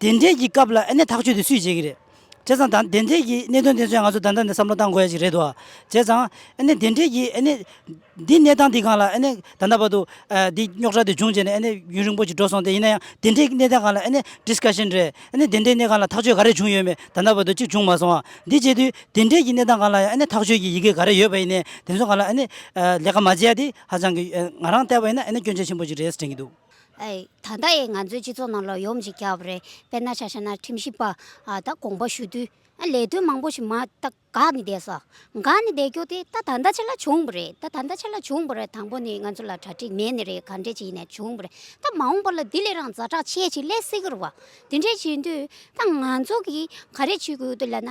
གདན་འདྲེན་གྱི་སྐབས་ལ་ཨེ་ནས་ཐག་གཅོད་དེ་སུས་བྱེད་ཀྱི་རེད། བྱས་ཙང་ད་གདན་འདྲེན་གྱི་གནད་དོན་དེ་ཚོའི་ང་ཚོ་ད་ལྟ་ནས་བསམ་བློ་བཏང་དགོས་ཡ་ཞིག་རེད་དོ། བྱས་ཙང་ཨེ་ནས་གདན་འདྲེན་གྱིས་ཨེ་ནས། འདི་གནས་སྟངས་འདི་གང་ལ་ཨེ་ནས་ད་ལྟ་བར་དུ། འདི་རྙོག་དྲ་འདི་བྱུང་རྗེས་ནས་ཨེ་ནས་ཡུན་རིང་པོ་ཞིག་འགྲོ་སོང་སྟེ་ཡིན་ན་ཡང་གདན་འདྲེན་གྱི་གནས་སྟངས་གང་ལ་ཨེ་ནས Discussion རེད། ཨེ་ནས་གདན་འདྲེན་གནས་གང་ལ་ཐག་གཅོད་ག་རེ་བྱུང་ཡོད་མེད་ད་ལྟ་བར་དུ་གཅིག་བྱུང་མ་སོང་ཨ། འདི་བྱས་དུས་གདན་འདྲེན་གྱི་གནས་སྟངས་གང་ལ་ཡང་ཨེ་ནས་ཐག་གཅོད་ཀྱི་ཡི་གེ་ག་རེ་ཡོད་པ་ཡིན་ནས་དེ་ཚོ་གང་ལ་ཨེ་ནས། ལས་ཀ་མ་བྱས་ཡ་དེ་ཧ་ཅང་གི་ང་རང་བལྟས་པ་ཡིན་ན་ཨེ་ནས་སྐྱོན་ཆ་ཆེན་པོ་ཞིག་རེད་ཟེར་དྲན་གྱི་འདུག། ད་ལྟ་ཡི་ང་ཚོའི་སྤྱི་ཚོགས་ནང་ལོག་ཡོམ་ཅིག་བསྐྱལ་བ་རེད་དཔེར་ན་ཆ་ཤས་ན་ཁྲིམས་ཞིབ་པ་དག་དགོངས་པ་ཞུ་དུས་ལས་དོན་མང་པོ་ཞིག་མ་ད་འགག་ནས་བསྡད་སོང་འགག་ནས་བསྡད་རྒྱུ་དེ་ད་ད་ལྟ་ཆད་ལ་བྱུང་བ་རེད་ད་ད་ལྟ་ཆད་ལ་བྱུང་བ་རེད་དང་པོ་ནི་ང་ཚོ་ལ་གྲ་སྒྲིག་མེད་ནི་རེད་ག་འདྲས་ཅིག་ཡིན་ནས་བྱུང་བ་རེད་ད་མ་འོངས་པ་ལ་དེ་ལས་རང་རྩ་དྲག་ཆས་ཅིག་སླེབས་སྲིད་ཀི་རུ་བ་དེ་འདྲས་བྱེད་དུས་ད་ང་ཚོ་གིས་ག་རེ་བྱེད་དགོས་ཡོད་དུ་ལ་ན།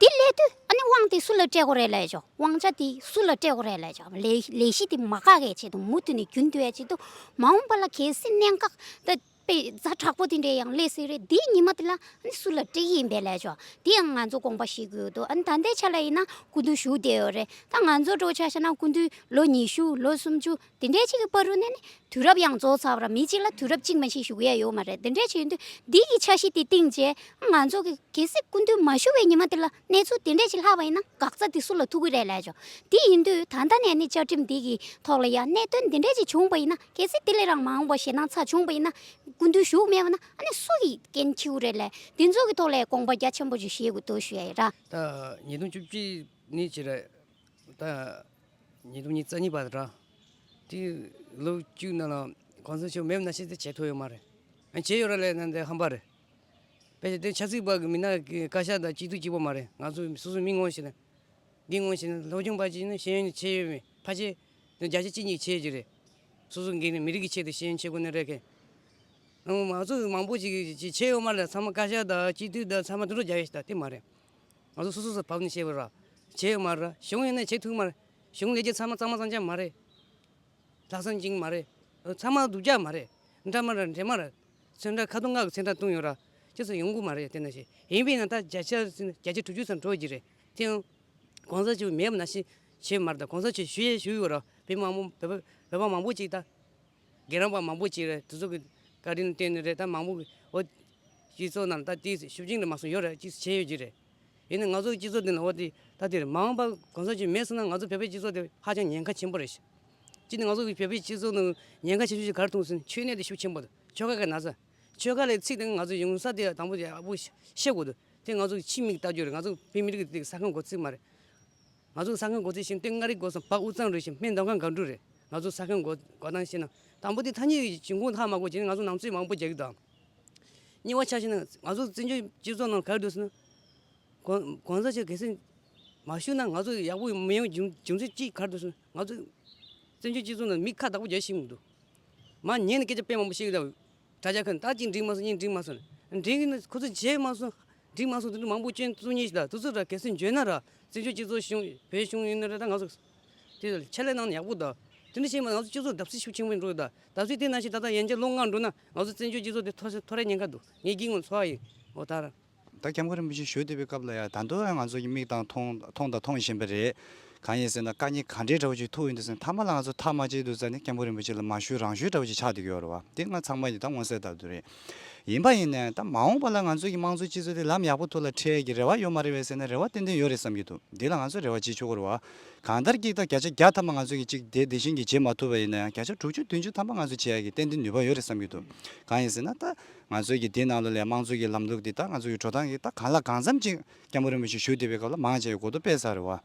དེ་སླད་དུ་དབང་དེ་སུ་ལ་སྤྲད་དགོས་རེད་ལས་བྱ་དབང་ཆ་དེ་སུ་ལ་སྤྲད་དགོས་རེད་ལས་བྱ་ལས་གཞི་དེ་མ་བཀག་གི་ཆེད་དུ་མུ་མཐུད་ནས་རྒྱུན་མཐུད་ཡ་ཆེད་དུ་མ་འོངས་པ་ལ་གལ་སྲིད་གནད་འགག་དེ་དཔེ་རྫ་དྲག་པོ་དེ་འདྲས་ཡང་སླེབས་སྲིད་རེད་དེའི་ཉི་མ་དེ་ལ་སུ་ལ་སྤྲད་ཀྱི་ཡིན་པའི་ལས་བྱ་དེ་ཡང་ང་ཚོ་དགོངས་པ་བཞེས་དགོས་འདུག་ད་ལྟའི་ཆ་ལ་ཡིན་ན་སྐུ་མདུན་བཞུགས་བསྡད་ཡོད་རེད་ད་ང་ཚོ་འགྲོ་འཆར་ཤ་ན་སྐུ་མདུན་ལོ་ཉི་ཤུ་ལོ་སུམ་ཅུ་དེ་འདྲའི་ཆེ་གི་པར་རུ་ནས་ནི་དུས་རབས་ཡང་རྫོགས་ཚར་བར་མི་གཅིག་ལ་དུས་རབས་གཅིག་མ་ཞིག་ཞུ་གི་ཡ་ཡོད་མ་རེད་དེ་འདྲའི་ཆེ་ཡོད་དུས་འདི་གི་འཆར་གཞི་དེ་བཏིང་རྗེས་ང་ཚོ་གི་གལ་སྲིད་སྐུ་མདུན་མ་ཞུ་བའི་ཉི་མ་དེ་ལ་གནས་ཚུལ་དེ་འདྲས་ཞིག་ལྷག་པ་ཡིན་ན་འགག་རྩ་དེ་སུ་ལ་ཐུག་གི་རེད་ལས་བྱུང་དེ་ཡིན་དུས་ད་ལྟ་ནས་ནི་བཅའ་ཁྲིམས་འདི་གི་ཐོག་ལ་ཡང་གནད་དོན་དེ་འདྲས་ཅིག་བྱུང་བ་ཡིན་ན་གལ་སྲིད་དེ་ལས་རང་མང་བ་ཞེ་སྣང་ཚ་བྱུང་བ་ཡིན་ན་སྐུ་མདུན་བཞུགས་མེད་པ་ན་ཨ་ནི་སུ་ཡིས་རྐྱེན་ཁྱེའུ་རེད་ལས་འདི་ཚོ་གི་ཐོག་ལས་དགོངས་པ་རྒྱ་ཆེན་པོ་ཅིག་བཞེས་དགོས་འདུག་ཞུ་ཡ་ཡིན་ར། ད་ཉིས་སྟོང་བཅུ་གཅིག་ནི་ཅི་རེད། ད་ཉིན་དུ་ཉིན་རྩ་གཉིས་པ་དང་འདྲ། དེ་ལོ་བཅུའི་ནང་ལ་གོང་ས་མཆོག་མེད་ན་ཤེས་ཚད་ཇེ་མཐོ་ཡོད་མ་རེད། ཡང་ཇེ་ཡོད་ར་ལས་ན་འདི་ཧམ་པ་རེད། དཔེ་ཆ་དེ་ཆབ་སྲིད་པ་གི་མི་ན་བཀའ་ཤག་དང་སྤྱི་འཐུས་སྤྱི་པོ་མ་རེད་ང་ཚོ་སོ་སོ་མི་ངོ་ཤེས་ན། འདི་ངོ་ཤེས་ན་སློབ་སྦྱོང་པ་གཅིག་ནི་ཤེས་ཡོན་ཆེད་ཡོད་མེད་ཕ་ཆེ། དེ་རྒྱ་ཆེ་སྤྱི་གཉིས་ཆེད་ཀྱི་རེད། སོ་སོ་འགན་ནི་མི་རིགས་ཀྱི་ཆེད་དུ་ཤེས་ཡོན་ཆེད་དགོས་ནི་རེད་མཁན། ང་ཚོ་མང་པོ་ཅིག་ཆེད་ཡོད་མ་རེད་ཚང་མ་བཀའ་ཤག་དང་སྤྱི་འཐུས་དང་ཚང་མ་དུད་འགྲོ་རྒྱག་ཡོད་ཤེས་ད་དེ་མ་རེད། ང་ཚོ་སུ་སུ་སུ་བབ་ནས་བྱས་པ་ར། བྱས་ཡོད་མ་རེད་ར། གཞུང་ཡོད་ནས་བྱས་ཐུག་གི་མ་རེད། གཞུང་ལས་རྒྱ་ཚང་མ་གཙང་མ་གཙང་རྐྱང་མ་རེད། ལག་ཟམ་བཅིངས་ཀྱི་མ་རེད། ཚང་མ་སྡུག་རྐྱང་མ་རེད། འདྲ་མ་རེད་འདྲེ་མ་རེད། ཚོན་ཁྲ་ཁ་ཐུང་ངག་གི་ཚན་ཁྲ་བཏུང་ཡོད་ར། ཅི་ཟེར་ཡོང་གི་མ་རེད་དེ་ན་ཞིག་ཡིན་པས་ན་ད་བརྒྱ་ཆ་བརྒྱ་ཆ་དྲུག་ཅུ་ཙམ་འགྲོ་གི་རེད། དེ་ཡང་གོང་ས་མཆོག་མེད་པ་ན་ཞིག་བྱས་ཡོད་མ་རེད་ད་གོང་ས་མཆོག་ཞུ་ཡས་ཞུ་ཡོད་ར། བོད་མང་པོ་བོད་པ་མང་པོ་ཅིག་ད། རྒན་རབས་པ་མང་པོ་ཅིག་རེད་དེ་ཚོ་གི་བཀའ་དྲིན་བསྟོད་ནི་རེད་ད་མང་པོ་གི་ཨོ། སྤྱི་ཚོགས་ནང་ད་ཏི་ཞུ་བཅིང་རེ་མ་སོང་ཡོད་རེད་ཅིག་བྱས་ཡོད་ཀྱི་རེད། ཡིན་ན་ང་ཚོ་སྤྱི་ཚོགས་འདི་ནང་ཨོ་ཏི་ད་ཏི་རེ་མང་པ་གོང་ས་ཅུས་མེད་སོང་ན་ང་ཚོ་བོད་པའི་སྤྱི་ཚོགས་དེ་ཧ་ཅང་ཉེན་ཁ་ཆེན་པོ་རེད་ཤི། ཅི་ནི་ང་ཚོ་གི་བོད་པའི་སྤྱི་ཚོགས་ནང་ཉེན་ཁ་ཆེ་ཤོས་ཤིག་གར་ཐུང་སོན་ཆོས་གནས་དེ་ཤུགས་ཆེན་པོ་དང་ཆོལ་ཁ་གི་ན་ཚ། ཆོལ་ཁ་ལའི་ཚིག་དང་ང་ཚོ་ཡོང་ས་དེ་དང་པོ་དེ་ཨ་པོ་ཤེས་དགོས་དུ་དེ་ང་ཚོ་ཕྱི་མིག་ལྟ་རྒྱུ་རེད་ང་ཚོ་བོད་མི་རིགས་ཀྱི་ས་ཁམས་འགོ་ཚུགས་མ་རེད། ང་ཚོ་ས་ཁང་འགོ་རྩིས་ཤིང་སྟོད་མངའ་རིས་སྒོ་སམ་བག་འུ་གཙང་རུ་ཞིང་སྨན་འདམ་ཁང་སྒང་དྲུག་རེད། ང་ཚོ་ས་ཁང་འགོ་སྟངས་ཤེས་ན། དང་པོ་དེ་ཐ་སྙད་ཀྱི་འབྱུང་ཁུངས་ཐ་མག་པོ་བྱས་ན་ང་ཚོ་ནང་ཚོད་མང་པོ་རྒྱག་རྒྱུ་དང། གཉིས་པ་ཆ་ཤེས་ན་ང་ཚོ་བཙན་བྱོལ་སྤྱི་ཚོགས་ནང་ག་རེ་འདུག་ཟེར་ན། གོང་གོང་ས་མཆོག་གལ་སྲིད་མ་བཞུགས་ན་ང་ཚོ་ཡག་པོ་མི་ཡོང་རྒྱུ་རྒྱུ་མཚན་གཅིག་ག་རེ་འདུག་ཟེར་ན། ང་ཚོ་བཙན་བྱོལ་སྤྱི་ཚོགས་ནང་མི་ཁ་བདག་པོ་རྒྱག་བཞིན་འདུག། མ་ཉེས་ནས་སྐད་ཆ་དཔེ་མང་པོ་བཤད་ཀྱི་འདུག། དྲ་རྒྱ་ཁོན་ད་ཅིག་འགྲིག་མ་སོང་གཉིས་འགྲིག་མ་སོང། འགྲིག་གི་ཁོ་ཚོ་བྱས་མ་སོང། འགྲིག་མ་སོང་དུད་འགྲོ་མང་པོ་བཅོན་བཙུགས་གཉིས་ལ་དུས་ཚོད་ར་གལ་སྲིད་འཇོན་ན་ར། བཙན་བྱོལ་སྤྱི་ཚོགས་གཞུང་བོད་གཞུང་ཡིན་ན་ར་ད་ང་ཚོ། དེ་ལ་ཁྱད་ལས་གནང་ན་ཡག་པོ་དང། དེ་འདྲ་བྱས་མ་ང་ཚོ་སྤྱི་ཚོགས་བརྡབ་གསིག་ཤུགས་ཆེན་པོ་འགྲོ་དང། བརྡབ་གསིག་དེ་ན་ཞིག་ད་ད་ཡན་ཆད་ལོ་ལྔ་འགྲོ་ན་ང་ཚོ་བཙན་བྱོལ་སྤྱི་ཚོགས་དེ་ཐོ་ཐོ་རེ་ཉེན་ཁ་འདུག་ངས་སྒྱིད་ངོ་འཚོ་བ་ཡིན། འོ་ད་ར། ད་སྐྱབས་མགོན་རིན་པོ་ཆེ་ཞུ་བསྡད་པའི་སྐབས་ལ་ཡང་ད་དུང་ང་ཚོ་ཡི་མིག་དང་མཐོང་མཐོང་དང་མཐོང་བཞིན་པ་རེད། གང་ཡིན་ཟེར་ན་བཀའ་རྙིང་གང་འདྲའི་འདྲ་བོ་ཅིག་ཐུག་ཡོད་འདུག་ཟེར་ན་ཐ་མ་ལ་ང་ཚོ་ཐག་མ་བཅད་འདུག་ཟེར་ནས་སྐྱབས་མགོན་རིན་པོ་ཆེ་ལ་མ་ཞུས་རང་ཞུས་འདྲ་བོ་ཅིག་ཆགས་འདུག་གི་ཡོད་རེད་བ། དེ་ང་ཚང་མ་ཡི་ད་མངོན་གསལ་དག་ཏུ་རེད། ཡིན་པ་ཡིན་ནའི་ད་མ་འོངས་པ་ལ་ང་ཚོ་ཡི་དམངས་གཙོའི་སྤྱི་ཚོགས་དེ་ལམ་ཡག་པོ་ཐུག་ལ་འཕྲལ་གྱི་རེ་བ་ཡོད་མ་རེད་བས་ཟེར་ན་རེ་བ་ཏན་ཏན་ཡོད་རེད་བསམ་གྱི་འདུག་འདི་ལ་ང་ཚོ་རེ་བ་བྱེད་ཆོག་གི་རེད་བ། གང་ལྟར་གྱིས་ད་བརྒྱ་ཆ་བརྒྱ་ཐ་མ་ང་ཚོ་ཡི་གཅིག་དེ་དེ་བཞིན་གྱི་བྱེད་མ་ཐུབ་པ་ཡིན་ན་ཡང་བརྒྱ་ཆ་དྲུག་ཅུ་བདུན་ཅུ་ཐ་མ་ང་ཚོ་བྱེད་ཡག་གི་ཏན་ཏན་ནུས་པ་ཡོད་རེད་བསམ་གྱི་འདུག་གང་ཡིན་ཟེར་ན་ད། ང་ཚོས་ཀྱི་དེའི་ནང་དུ་ལས་དམངས་གཙོ་གྱི་ལམ་ལུགས་འདི་ད་ང་ཚོ་ཡུལ་གྲོ་ཐང་གི་ད་གང་ལ་གང་འཚམ་ཅིག་སྐྱབས་མགོན་རིན་པོ་ཆེ་བཞུགས་བསྡད་པའི་སྐབས་ལ་མང་ཆེ་བའི་གོ་ཐོབ་སྤེལ་ས་རེད་བ།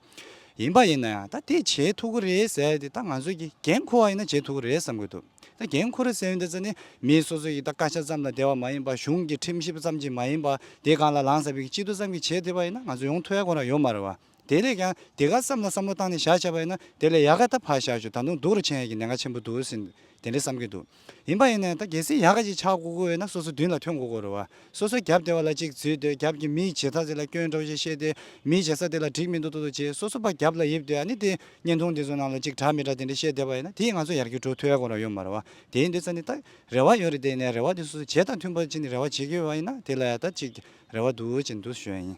ཡིན་པ་ཡིན་ན་ཡང་ད་དེ་བྱེད་ཐུག་གི་རེད་ཟེར་དེ་ད་ང་ཚོས་ཀྱི་འགན་འཁུར་བ་ཡིན་ན་བྱེད་ཐུག་གི་རེད་བསམ་གྱི་འདུག་ད་འགན་འཁུར་རེ་ཟེར་བའི་འདི་ཚོ་ནི་མི་སོ་སོ་ཡི་ད་སྐད་ཆ་ཙམ་ལ་བདེ་བ་མ་ཡིན་པ་གཞུང་གི་ཁྲིམས་ཞིབ་ཙམ་གྱིས་མ་ཡིན་པ་དེ་གང་ལ་ལངས་ས་བའི་གཅིག་ཏུ་ཙམ་གྱིས་བྱེད་ཐུབ་པ་ཡིན་ན་ང་ཚོ་ཡོང་ཐུ་ཡ་གོ་ར་ཡོད་མ་རེད་བ། དེ་ལས་ཀྱང་དེ་གར་བསམ་ལ་བསམ་བློ་བཏང་ནས་བཞག་བྱས་པ་ཡིན་ན་དེ་ལས་ཡག་ག་ད་ཕར་བཞག་ཆོག་ད་དུང་སྡུག་རུ་ཆེན་ཡས་ཀྱི་ནད་འགའ་ཆེན་པོ་འདུག་ཟིན་དེ་འདྲས་བསམ་གྱི་འདུག་ཡིན་པ་ཡིན་ནའི་ད་གལ་སྲིད་ཡག་ག་ཅིག་ཆགས་དགོས་དགོས་ཡོད་ན་སོ་སོ་མདུན་ལ་ཐོན་དགོས་དགོས་རུ་བ་སོ་སོའི་རྒྱབ་དེ་བ་ལ་ཅིག་བརྫུས་ཏེ་རྒྱབ་ཀྱི་མིས་བྱེད་ས་དེ་ལ་སྐྱོན་འགྲོ་ཞེས་བཤད་དེ་མིས་བྱེད་ས་དེ་ལ་འགྲིག་མི་འདུག་ཏོ་ཏོ་ཅེས་སོ་སོ་པ་རྒྱབ་ལ་ཡིབ་སྟེ་ཨ་ནི་དེ་བརྙན་ཐུང་འདི་ཚོ་ནང་ལ་ཅིག་དྲག་མི་དྲག་དེ་འདྲས་བཤད་བསྡད་པ་ཡིན་ན་དེས་ང་ཚོ་ཡར་གྱི་འགྲོ་ཐོའི་གོ་ར་ཡོད་མ་རུ་བ་དེའི་འདོད་ས་ནི་ད་རེ་བ་ཡོད་རེད་དེ་ནས་རེ་བ་དེ་སོ་སོའི་བྱེད་དང་མཐུན་པར་ཅིག་ནས་རེ་བ་བྱེད་ཀྱི་ཡོད་བ་ཡིན་ན་དེ་ལ་ཡང་ད་ཅིག་རེ་བ་འདུག་ཅེས་འདུག་ཞོན་ཡིན།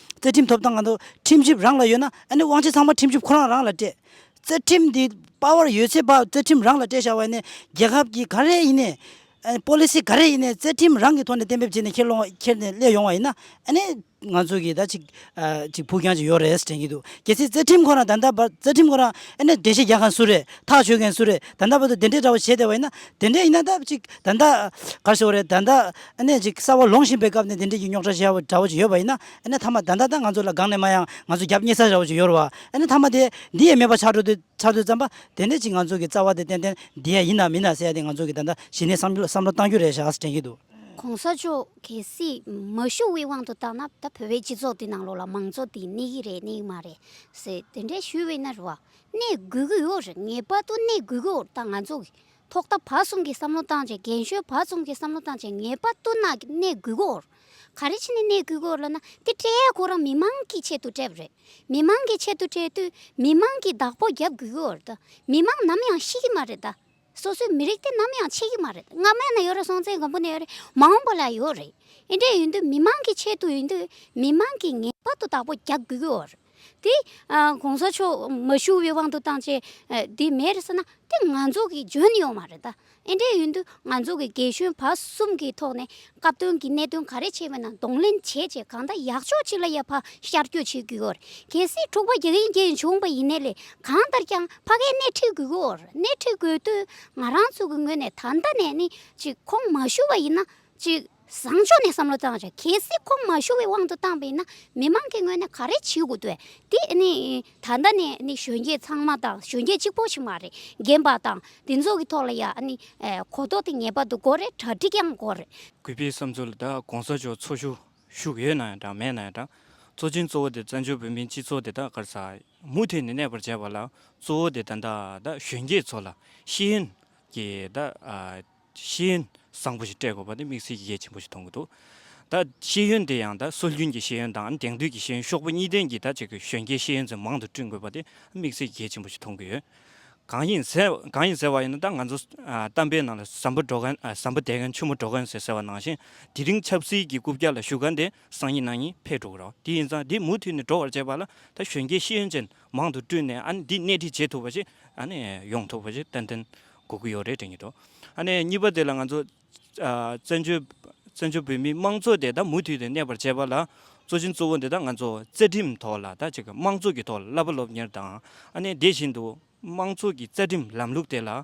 རྩ་ཁྲིམས་ཐོབ་ཐང་ག་དུ་ཁྲིམས་ཞིབ་རང་ལ་ཡོད་ན་ཨ་ནི་དབང་ཆ་ཚང་མ་ཁྲིམས་ཞིབ་ཁོ་རང་རང་ལ་སྤྲད། རྩ་ཁྲིམས་འདི་དཔའ་བར་ཡོད་ཚེ་བར་རྩ་ཁྲིམས་རང་ལ་སྤྲད་ཤ་བ་ཨ་ནི་རྒྱལ་ཁབ་ཀྱི་ག་རེ་ཡིན་ནས། ཨ་ནི Policy ག་རེ་ཡིན་ནས་རྩ་ཁྲིམས་རང་གི་ཐོག་ནས་གཏན་འབེབས་བྱས་ནས་ཁྱེར་ལོང་ཁྱེར་ནས་སླེབས་ཡོང་བ་ཡིན་ན་ཨ་ནི་ང་ཚོ་གིས་ད་ཅིག་ཅིག་ཕུགས་རྒྱང་ཅིག་ཡོད་རེད་དྲན་གྱི་འདུག་གལ་སྲིད་རྩ་ཁྲིམས་ཁོ་རང་ད་ལྟ་བར་རྩ་ཁྲིམས་ཁོ་རང་ཨ་ནི་འགྲེལ་བཤད་རྒྱག་མཁན་སུ་རེད་ཐག་གཅོད་མཁན་སུ་རེད་ད་ལྟ་བར་དུ་དེ་འདྲས་འདྲ་བོ་བྱས་བསྡད་པ་ཡིན་ན་དེ་འདྲས་ཡིན་ན་ད་ཅིག་ད་ལྟ་གར་ཞོག་རེད་ད་ལྟ་ཨ་ནེ་ཅིག་གསར་བ་ལོངས་བཞིན་པའི་སྐབས་ནས་དེ་འདྲས་ཀྱི་རྙོག་གྲ་ཞེ་འདྲ་བོ་ཅིག་ཡོད་པ་ཡིན་ན་ཨ་ནེ་ཐ་མ་ད་ལྟ་ད་ང་ཚོ་ལ་སྒང་ནས་མ་ཡང་ང་ཚོ་རྒྱབ་བསྙེས་ས་འདྲ་བོ་ཅིག་ཡོད་རེད་བ། ཨ་ནེ་ཐ་མ་དེ་འདི་ཡས་མེད་པ་ཆགས་འགྲོ་འདོད་ཆགས་འདོད་ཙམ་པ། དེ་འདྲས་ཅིག་ང་ཚོ་གི་རྩ་བ་དེ་ཏན་ཏན་འདི་ཡས་ཡིན་ནམ་མིན་ན་ཟེར་ཡ་དེ་ང་ཚོ་གི་ད་ལྟ་གཞི་ནས་བསམ་བསམ་བློ་གཏང་རྒྱུ་རེད་ཞགས་སུ་དྲན་གྱི་འདུག། གོང་ས་མཆོག་གལ་སྲིད་མ་བཞུགས་བའི་དབང་དུ་བཏང་ན་ད་བོད་པའི་སྤྱི་ཚོགས་འདི་ནང་ལོགས་ལ་མང་གཙོ་འདི་གནས་གི་རེད་གནས་གི་མ་རེད་ཟེར་དེ་འདྲས་ཞུས་བས་ན་རེད་བ། གནས་དགོས་གི་ཡོད་རེད་ངེས་པ་དུ་གནས་དགོས་གི་ཡོད་ད་ང་ཚོ་གི་ཐོག་མཐའ་བར་གསུམ་གྱི་བསམ་བློ་བཏང་རྗེས་རྒན་གཞོན་བར་གསུམ་གྱི་བསམ་བློ་བཏང་རྗེས་ངེས་པར་དུ་གནའ་གནས་དགུའི་སྐོར། ག་རེ་བྱས་ནས་གནས་དགུའི་སྐོར་ལབ་ན་དེ་བཀྲེས་ཁོ་རང་མི་མང་གི་ཆེད་དུ་བཀྲེས་པ་རེད། མི་མང་གི་ཆེད་དུ་བཀྲེས་དུས་མི་མང་གིས་བདག་པོ་རྒྱབ་དགོས་ཀྱི་ཡོད་རེད། མི་མང་ནམ་ཡང་ཤི་གི་མ་རེད། སོ་སོའི་མི་རིགས་དེ་ནམ་ཡང་འཆི་གི་མ་རེད། སྔ་མོ་ནས་ཡོད་རེད་སྲོང་བཙན་སྒམ་པོ་ནས་ཡོད་རེད་མ་འོངས་པ་ལ་ཡོད་རེད། ཨེ་འདྲས་ཡིན་དུས་མི་མང་གི་ཆེད་དུ་ཡིན་དུས་མི་མང་གིས་ངེས་པར་དུ་བདག་པོ་རྒྱབ་དགོས་ཀྱི་ཡོད་རེད། དེ། གོང་ས་མཆོག་མ་བཞུགས་པའི་དབང་དུ་བཏང་བཅས་དེ་མེད་རེད་ཟེར་ན་དེ་ང་ཚོ་གིས་འཇོན་ཡོང་བ་རེད་ད། ཨེ་འདྲའི་ཡུན་དུ་ང་ཚོ་གིས་རྒས་གཞོན་བར་གསུམ་གྱི་ཐོག་ནས་སྐབས་དོན་གྱི་གནད་དོན་ག་རེ་ཆེ་བས་ན་གདོང་ལེན་བྱས་བྱས་གང་ལྟ་ཡག་ཕྱོགས་གཅིག་ལ་ཡ་ཕ་ཤར་བསྐྱོད་བྱེད་དགོས་གོ། གལ་སྲིད་འཁྲུག་པ་རྒྱག་གིན་རྒྱག་གིན་བྱུང་བ་ཡིན་ནས་ལས་གང་ལྟར་ཀྱང་ཕ་གའི་སྣེ་ཁྲིད་དགོས་གོ། སྣེ་ཁྲིད་དགོས་དོན་ང་རང་ཚོ་གི་ངོས་ནས་ད་ལྟ་ནས་ནི་ཅིག་ཁོང་མ་བཞུགས་པ་ཡིན་ན་ཅིག། བཟང་ཕྱོགས་ནས་བསམ་བློ་བཏང་རྗེས་གལ་སྲིད་ཁོང་མ་ཞུ་བའི་དབང་དུ་བཏང་པས་ན་མི་མང་གི་ངོས་ནས་ག་རེ་བྱེད་དགོས་དོན་དེ་ནི་ད་ལྟ་ནས་ནི་གཞོན་སྐྱེས་ཚང་མ་དང་གཞོན་སྐྱེས་གཅིག་པོ་ཞིག་མ་རེད་རྒན་པ་དང་དེ་ཚོ་གི་ཐོག་ལ་ཡང་གོ་རྟོགས་དེ་ངེས་པར་དུ་དགོས་རེད་གྲ་སྒྲིག་ཡང་དགོས་རེད། གུས་པའི་བསམ་ཚུལ་ལ་དག་གོང་ས་མཆོག་འཚོ་བཞུགས་བཞུགས་ཡོད་ན་ཡང་དང་མེད་ན་ཡང་དག་གཙོ་ཆེན་གཙོ་བོ་དེ་བཙན་བྱོལ་བོད་མིའི་སྤྱི་ཚོགས་དེ་དག་གར་ས་མུ་མཐུད་ནས་གནས་པར་བྱས་པ་ལ་གཙོ་བོ་དེ་ད་ལྟ་གཞོན་སྐྱེས་ཚོ་ལ་ཤེས་ཡོན་གྱི་དག་ཤེས་ཡོན་བཟང་པོ་ཞིག་སྤྲད་དགོས་པ་དེ་དམིགས་བསལ་གྱི་གལ་ཆེན་པོ་ཞིག་མཐོང་གི་འདུག་ད། ཤེས་ཡོན་དེ་ཡང་ད་སྲོལ་རྒྱུན་གྱི་ཤེས་ཡོན་དང་དེང་དུས་ཀྱི་ཤེས་ཡོན་ཤོག་བུ་གཉིས་ལྡན་གྱི་ད་ཅིག་གཞོན་སྐྱེས་ཤེས་ཡོན་ཚོ་མང་དུ་བསྐྲུན་དགོས་པ་དེ་དམིགས་བསལ་གྱི་གལ་ཆེན་པོ་ཞིག་མཐོང་གི་ཡོད། གང་ཡིན་ཟེར་གང་ཡིན་ཟེར་བ་ཡིན་ན་ད་ང་ཚོ་གཏམ་དཔེའི་ནང་ལ་ཟམ་པ་འགྲོ་མཁན་ཟམ་པ་འདེགས་མཁན་ཆུ་མོ་འགྲོ་མཁན་ཟེར་ཟེར་བ་ནང་བཞིན་དེ་རིང་ཆབ་སྲིད་ཀྱི་རྐུབ་བཀྱག་ལ་བཞུགས་མཁན་དེ་སང་ཉིན་གནངས་ཉིན་ཕེབས་འགྲོ་གི་རེད་དེ་ཡིན་ཙང་དེ་མུ་མཐུད་ནས་འགྲོ་བར་བྱེད་པ་ལ་ད་གཞོན་སྐྱེས་ཤེས་ཡོན་ཅན་མང་དུ་བསྐྲུན་ནས་ཨ་ནི་འདི་སྣེ་ཁྲིད་བྱེད་ཐུབ་པ་ཞིག་ཨ་ནི་ཡོང་ཐུབ་པ་ཞིག་ཏན་ཏན་དགོས་ཀྱི་ཡོད་རེད་དྲན་གྱི་འདུག་ཨ་ནས་གཉིས་པ་དེ་ལ་ང་ཚོ་བཙན་བྱོལ་བཙན་བྱོལ་བོད་མིའི་དམངས་གཙོ་དེ་དག་མུ་མཐུད་དེ་གནས་པར་བྱས་པ་ལ་གཙོ་ཆེན་གཙོ་བོ་འདི་དག་ང་ཚོ་རྩ་ཁྲིམས་ཐོག་ལ་ད་ཅིག་དམངས་གཙོ་གི་ཐོག་ལ་བསླབ་པ་སློབ་གཉེར་དང་ཨ་ནས་དེ་བཞིན་དུ་དམངས་གཙོ་གི་རྩ་ཁྲིམས་ལམ་ལུགས་དེ་ལ་ཨ་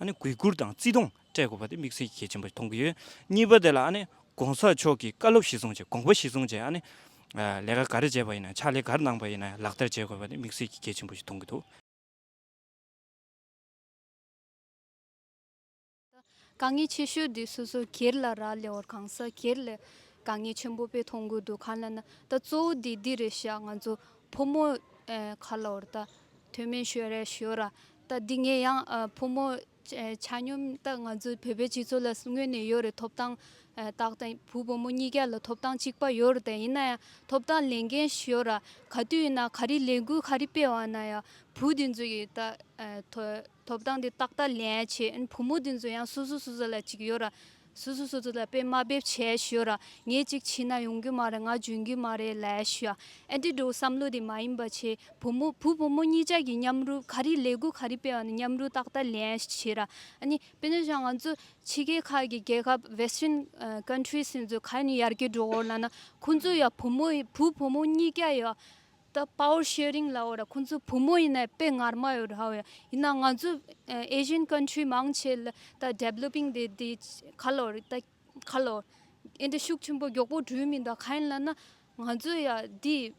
ནས་གུས་བཀུར་དང་བརྩི་མཐོང་སྤྲད་དགོས་པ་དེ་དམིགས་བསལ་གལ་ཆེན་པོ་མཐོང་གི་ཡོད་གཉིས་པ་དེ་ལ་ཨ་ནས་གོང་ས་མཆོག་གི་བཀའ་སློབ་གཞི་བཟུང་བྱས་དགོངས་པ་གཞི་བཟུང་བྱས་ཨ་ནས་ལས་ཀ་ག་རེ་བྱས་པ་ཡིན་ན་ཕྱག་ལས་ག་རེ་གནང་པ་ཡིན་ན་ལག་བསྟར་བྱེད་དགོས་པ་དེ་དམིགས་བསལ་གྱི་གལ་ཆེན་པོ་ཞིག་མཐོང་གི་འདུག། དཀའ་ངལ་ཆེ་ཤོས་དེ་སོ་སོ་གྱེར་ལ་རག་ལས་བར་གང་ཟག་གྱེར་ལས་དཀའ་ངལ་ཆེན་པོ་དཔེ་ཐོང་དགོས་འདུག་གང་ལ་ན་ད་གཙོ་བོ་དེ་འདི་རེད་ཤག་ང་ཚོ་ཕོ་མོ་ག་ལ་བར་ད་དོན་མེད་ཤོད་རེད་ཤོད་ར་ད་འདི་ངས་ཡང་ཕོ་མོ་ཆ་སྙོམས་ད་ང་ཚོའི་བོད་པའི་སྤྱི་ཚོགས་ལ་དངོས་ནས་ཡོད་རེད་ཐོབ་ཐང་སྟག་དང་བུ་བུ་མོ་གཉིས་ཀ་ལ་ཐོབ་ཐང་གཅིག་པ་ཡོད་རེད་དེ་ཡིན་ན་ཡང་ཐོབ་ཐང་ལེན་མཁན་ཞིག་ཡོད་ར་ག་དུས་ཡིན་ན་ག་རེ་ལས་འགུལ་ག་རེ་སྤེལ་བ་ན་ཡང་བུ་དེ་ཚོ་ཡི་ད་ཐོབ་ཐང་དེ་ཏག་ཏག་ལེན་ཡ་བྱེད་ཨ་བུ་མོ་དེ་ཚོ་ཡང་སོ་སོ་སོ་སོ་ལ་གཅིག་ཡོད་ར་སོ་སོ་སོ་སོ་ལ་དཔེ་དམའ་འབེབས་བྱས་ཡ་ཞིག་ཡོད་ར་ངས་གཅིག་བྱིན་ན་ཡོང་གི་མ་རེད་ང་འཇོན་གི་མ་རེད་ལ་ཡ་ཞུ་ཡ་ཨ་འདི་འདྲའུ་བསམ་བློ་དེ་མ་ཡིན་པ་བྱེད་བུ་མོ་བུ་བུ་མོ་གཉིས་ཅག་གི་མཉམ་རུབ་ག་རེ་ལས་འགུལ་ག་རེ་སྤེལ་བ་ན་མཉམ་རུབ་ཏག་ཏག་ལེན་ཡ་ཞིག་བྱེད་ར་ཨ་ནི་དཔེ་ན་ཞོ་ང་ཚོ་ཕྱི་རྒྱལ་ཁག་གི་རྒྱལ་ཁབ Western Countries སུན་ཟུར་གྷ་ནི་ཡར་རྒྱས་འགྲོ་འོར་ལ་ན་ཁོ་ཚོ་ཡ་བུ་མོ་བུ་བུ་མོ་གཉིས་ཀ་ཡོད་ད power sharing ལ་འོར་ར་ཁོ་ཚོ་བུ་མོ་ཡིན་ན་དཔེ་ངར་མ་ཡོད་ར་ཡོད་ཡིན་ན་ང་ཚོ Asian Country མང་ཆེ་ལ་ད developing དེ་དེ་གྷ་ལ་འོར་ད་གྷ་ལ་འོར་འདི་ཤུགས་ཆེན་པོ་མགྱོགས་པོ་འགྲུལ་མིན་ད་གྷ་ཡིན་ལ་ན། ང་ཚོས་ཡང་འདི་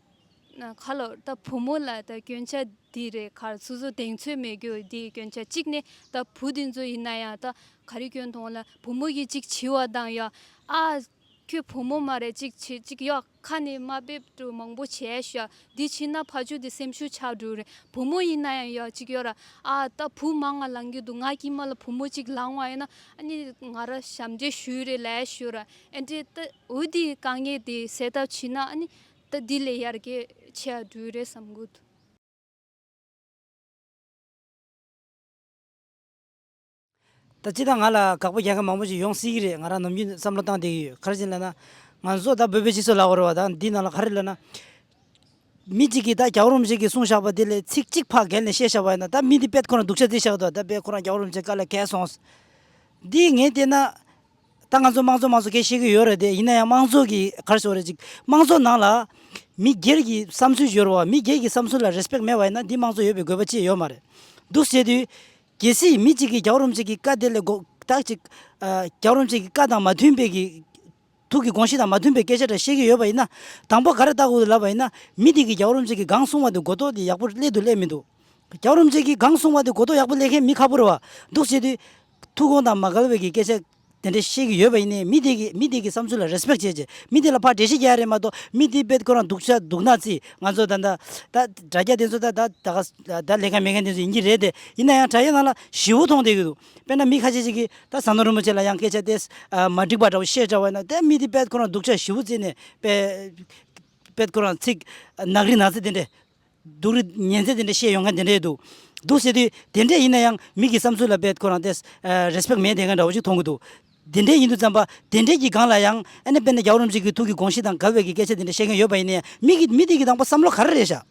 ག་ལ་ད་བུ་མོ་ལ་ད་སྐྱོན་ཆ་འདི་རེད་ག་སོ་སོ་གདེང་ཚོད་མེད་རྒྱུ་འདི་སྐྱོན་ཆ་གཅིག་ནི་ད་བུ་འདི་ཚོ་ཡིན་ན་ཡང་ད་ག་རེ་སྐྱོན་མཐོང་ལ་བུ་མོ་གིས་གཅིག་བྱི་བ་དང་ཡང་ཨ་ཁྱོད་བུ་མོ་མ་རེད་གཅིག་བྱེད་གཅིག་ཡོག་ཁ་ནས་དམའ་འབེབས་དྲུག་མང་པོ་བྱས་ཤག་འདི་བྱིན་ན་ཕ་ཆོས་འདི་སེམས་ཤུགས་ཆག་དྲུག་རེད་བུ་མོ་ཡིན་ན་ཡང་ཡག་གཅིག་ཡོད་ར་ཨ་ད་བུ་མ་ང་ལང་རྒྱུ་འདུག་ང་ཀྱི་མ་ལ་བུ་མོ་གཅིག་ལང་བ་ཡིན་ན་ཨ་ནི་ང་ར་ཞབས་འདྲེན་ཞུས་རེ་ལས་ཞུ་ར། ཨེ་འདྲས་ཏེ་འོ་དེའི་དཀའ་ངལ་དེ་སེལ་ཐབས་བྱས་ན་ཨ་ནི་ད་དེ་ལས་ཡར་རྒྱས་ཆེ་བ་འགྲོ་ཡི་རེད་བསམ་གོ། ད་སྤྱི་དང་ང་ལ་དགག་པ་རྒྱག་མཁན་མང་པོ་ཞིག་ཡོང་སྲིད་ཀྱི་རེད་ང་རང་ནམ་རྒྱུན་བསམ་བློ་བཏང་བསྡད་ཀྱི་ཡོད་གར་བྱེད་ལབ་ན། ང་ཚོ་ད་བོད་པའི་སྤྱི་ཚོགས་ལ་འོར་བ་དང་འདི་ནང་ལ་ག་རེ་ལབ་ན། མི་གཅིག་གིས་ད་རྒྱ་བོ་རུམ་ཅན་གྱིས་གསུངས་བཞག་པ་དེ་ལས་ཚིག་གཅིག་ཕག་འགལ་ནས་བཤད་བཞག་པ་ཡིན་ན་ད་མི་འདི་པད་ཁོ་རང་སྡུག་ཆ་འདི་བཞག་འདུག་ད་པད་ཁོ་རང་རྒྱ་བོ་རུམ་ཅན་དཀའ་ལས་གལ་སོང། འདིས་ངས་བལྟས་ན། ད་ང་ཚོ་དམངས་གཙོ་དམངས་གཙོ་སྐད་བཤད་ཀྱི་ཡོད་རེད་དེ་ཡིན་ན་ཡང་དམངས་གཙོ་གི་གར་ཞོག་རེད་ཅིག་དམངས་གཙོ་ནང་ལ། མི་སྒེར་གྱི་བསམ་ཚུལ་བརྗོད་རོགས་བ་མི་སྒེར་གྱི་བསམ་ཚུལ་ལ Respect མེད་བ་ཡིན་ན་འདི་དམངས་གཙོ་ཡོད་པའི་དགོས་པ་ཅི་ཡོད་མ་རེད། འདུག་བྱས་དུས། གལ་སྲིད་མི་གཅིག་གིས་རྒྱག་རུང་གཅིག་གིས་བཀའ་དེ་ལས་དགོ་བདག་ཅིག། རྒྱག་རུང་གཅིག་གིས་བཀའ་དང་མ་མཐུན་པའི་གི། ཐུགས་ཀྱི་དགོངས་གཞི་དང་མ་མཐུན་པའི་སྐད་ཆ་འདྲ་བཤད་ཀྱི་ཡོད་པ་ཡིན་ན། དང་པོ་ག་རེ་བལྟ་དགོས་ལབ་པ་ཡིན་ན། མི་དེ་གིས་རྒྱག་རུང་གཅིག་གིས་གང་གསུང་བ་དེ་གོ་རྟོགས་དེ་ཡག་པོ་སླེད་དུ་སླེད་མི་འདུག། རྒྱག་རུང་གཅིག་གིས་གང་གསུང་བ་དེ་གོ་རྟོགས་ཡག་པོ་སླེད་མཁན་མི་ཁ་པོ་རེད་བ། འདུག་བྱས་དུས། ཐུགས་དགོངས་དང་མ་བསྒལ་བའི་གི་སྐད་ཆ་དེ་འདྲ་བཤད་གི་ཡོད་པ་ཡིན་ནའི་མི་དེ་གི་མི་དེ་གི་བསམ་ཚུལ་ལ་རེས་སྤེགས་བྱས་རྗེས་མི་དེ་ལ་ཕར་འགྲེལ་བཤད་རྒྱ་ཡ་རེད་མ་གཏོགས་མི་དེ་དཔེ་ཁོ་རང་སྡུག་ཆ་སྡུག་ནག་རྩིས་ང་ཚོ་ད་ད་ད་དྲ་རྒྱ་དེ་ཚོ་ད་ད་ད་ག་ད་ལས་མཁན་མེད་མཁན་དེ་ཚོ་ཡིན་གྱི་རེད་དེ་ཡིན་ན་ཡང་དྲ་རྒྱ་ནང་ལ་ཞི་བོ་མཐོང་བསྡད་གི་འདུག་དཔེར་ན་མི་ཁ་ཤས་ཤིག་གིས་ད་ཟམ་གདོང་རིན་པོ་ཆེ་ལ་ཡང་སྐད་ཆ་དེ་མ་འགྲིག་པ་འདྲ་བོ་བཤད་འདྲ་བ་ཡིན་ན་དེ་མི་དེ་དཔེ་ཁོ་རང་སྡུག་ཆ་ཞི་བོ་རྩིས་ནས་དཔེ་དཔེ་ཁོ་རང་ཚིག་ནག་རིག་ནག་རྩིས་དེ་འདྲས་སྡུག་རུས་ཉན་ཚད་དེ་འདྲ་བཤད་ཡོང་མཁན་དེ་འདྲ་ཡོད་འདུག་སྡུག་ཟེར་དུས་དེ་འདྲས་ཡིན་ན་ཡང་མིག་གི་བསམ་ཚུལ་ལ་འབད་ཁོ་རང་ལྟས Respect མེད་བསྡད་མཁན་འདྲ་བོ་ཅིག་མཐོང་གི་འདུག་དེ་འདྲས་ཡིན་དུས་བརྩམས་པ་དེ་འདྲས་ཀྱི་སྒང་ལ་ཡང་ཨ་ནེ་པེ་ནེ་རྒྱ་བོ་རུམ་ཅིག་གི་ཐུགས་ཀྱི་དགོངས་གཞི་དང་ག་བའི་གི་སྐད་ཆ་དེ་འདྲ་བཤད་མཁན་ཡོད་པ་ཡིན་ན་ཡང་མི་གི་མི་དེ་གི་དང་པོ་བསམ་བློ་ག་རེ་རེད་ཤག་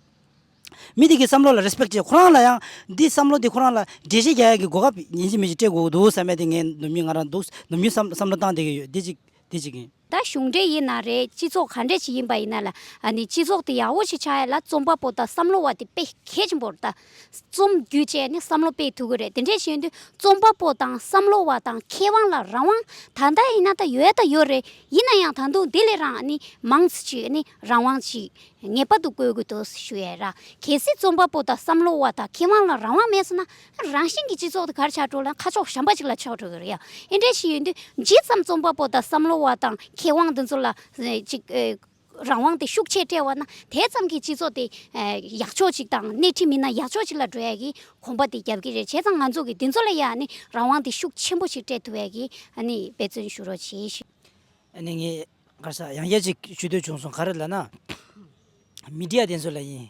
མི་དེ་གི་བསམ་བློ་ལ Respect བྱེད་ཁོ་རང་ལ་ཡང་འདི་བསམ་བློ་འདི་ཁོ་རང་ལ་འགྲེལ་བཤད་རྒྱག་ཡག་གི་གོ་སྐབས་ཡིན་གཅིག་མིན་གཅིག་སྤྲད་དགོས་ཀྱི་འདུག་བསམ་ཡས་དེ་ངས་ནུབ་ཉིན་ང་རང་འདུག་ནུབ་ཉིན་བསམ་བསམ་བློ་བཏང་བསྡད་ཀྱི་ཡོད་འདི་གཅིག་འདི་གཅིག་ཡིན། ད་གཞུང་འབྲེལ་ཡིན་ན་རེད་སྤྱི་ཚོགས་ག་འདྲས་ཞིག་ཡིན་པ་ཡིན་ན་ལ་ནི་སྤྱི་ཚོགས་དེ་ཡག་བོ་ཞིག་ཆགས་ཡ་ལ་རྩོམ་པ་པོ་དང་བསམ་བློ་བ་དེ་དཔེ་གལ་ཆེན་པོར་ད་རྩོམ་རྒྱུ་བཅས་ནི་བསམ་བློ་དཔེ་ཐུག་གི་རེད་དེ་འདྲས་ཞིག་ཡིན་དུས་རྩོམ་པ་པོ་དང་བསམ་བློ་བ་དང་མཁས་དབང་ལ་རང་དབང་ད་ལྟ་ཡིན་ན་ད་ཡོད་ད་ཡོད་རེད་ཡིན་ན་ཡང་ད་དུང་དེ་ལས་རང་ནི་མང་ཞིག་ནི་རང་དབང་ཞིག་ངེས་པ་དུ་དགོས་གི་འདུག་ཞུ་ཡས་ར་གལ་སྲིད་རྩོམ་པ་པོ་དང་བསམ་བློ་བ་དང་མཁས་དབང་ལ་རང་དབང་མེད་ས་ན་རང་བཞིན་གྱི་སྤྱི་ཚོགས་དེ་གར་ཆགས་འགྲོ་ན་ཁ་ཕྱོགས་གཞན་པ་ཅིག་ལ་ཆགས་འགྲོ་གི་རེད་ཡ། དེ་འདྲའི་ཞིག་ཡོད་དུས་ཇི་ཙམ་རྩོམ་པ་པོ་དང་བསམ་བློ་བ་དང་མཁས་དབང་འདི་ཚོ་ལ་ཅིག་རང་དབང་དེ་ཤུགས་ཆེ་སྤྲད་བ་ན་དེ་ཙམ་གྱིས་སྤྱི་ཚོགས་དེ་ཡག་ཕྱོགས་ཅིག་དང་སྣེ་ཁྲིད་མི་སྣ་ཡག་ཕྱོགས་ཅིག་ལ་འགྲོ་ཡག་གི་གོམ་པ་དེ་རྒྱབ་ཀྱི་རེད་བྱས་ཙང་ང་ཚོ་གི་འདི་ཚོ་ལ་ཡ་ནི་རང་དབང་དེ་ཤུགས་ཆེན་པོ་ཅིག་སྤྲད་ཐུབ་ཡག་གི་འབད་བརྩོན་ཞུ་རོགས་བྱེད་ཞེས། ཨ་ནི་ངས་གར་ས་ཡང་བསྐྱར་ཅིག་ཞུ་འདོད་བྱུང་སོང་ག་རེ་ལ་ན། མི་འདི་ཡ་དེ་ཚོ་ལ་ཡིན།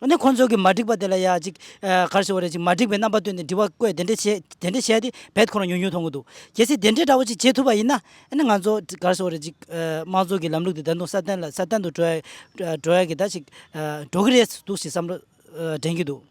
འོ་ན་ཁོ་ཚོ་གིས་མ་འགྲིག་པ་དེ་ལ་ཡང་ཅིག་གར་ཞེས་བ་རེད་ཅིག་མ་འགྲིག་པའི་རྣམ་པ་བཏོན་ཏེ་འབྲི་བ་བཀོད་དེ་འདྲ་བྱས་དེ་འདྲ་བྱས་ཏེ་བད་ཁོ་རང་ཉུང་ཉུང་མཐོང་གི་འདུག་གལ་སྲིད་དེ་འདྲའི་འདྲ་བོ་ཅིག་བྱེད་ཐུབ་པ་ཡིན་ན་འོ་ན་ང་ཚོ་གར་ཞེས་བ་རེད་ཅིག་དམངས་གཙོ་གི་ལམ་ལུགས་དེ་ད་དུང་སྲ་བརྟན་ལ་སྲ་བརྟན་དུ་འགྲོ་འགྲོ་ཡག་གི་ད་ཅིག་འགྲོ་གི་རེད་འདུག་ཞེས་བསམ་བློ་དྲན་གྱི་འདུག།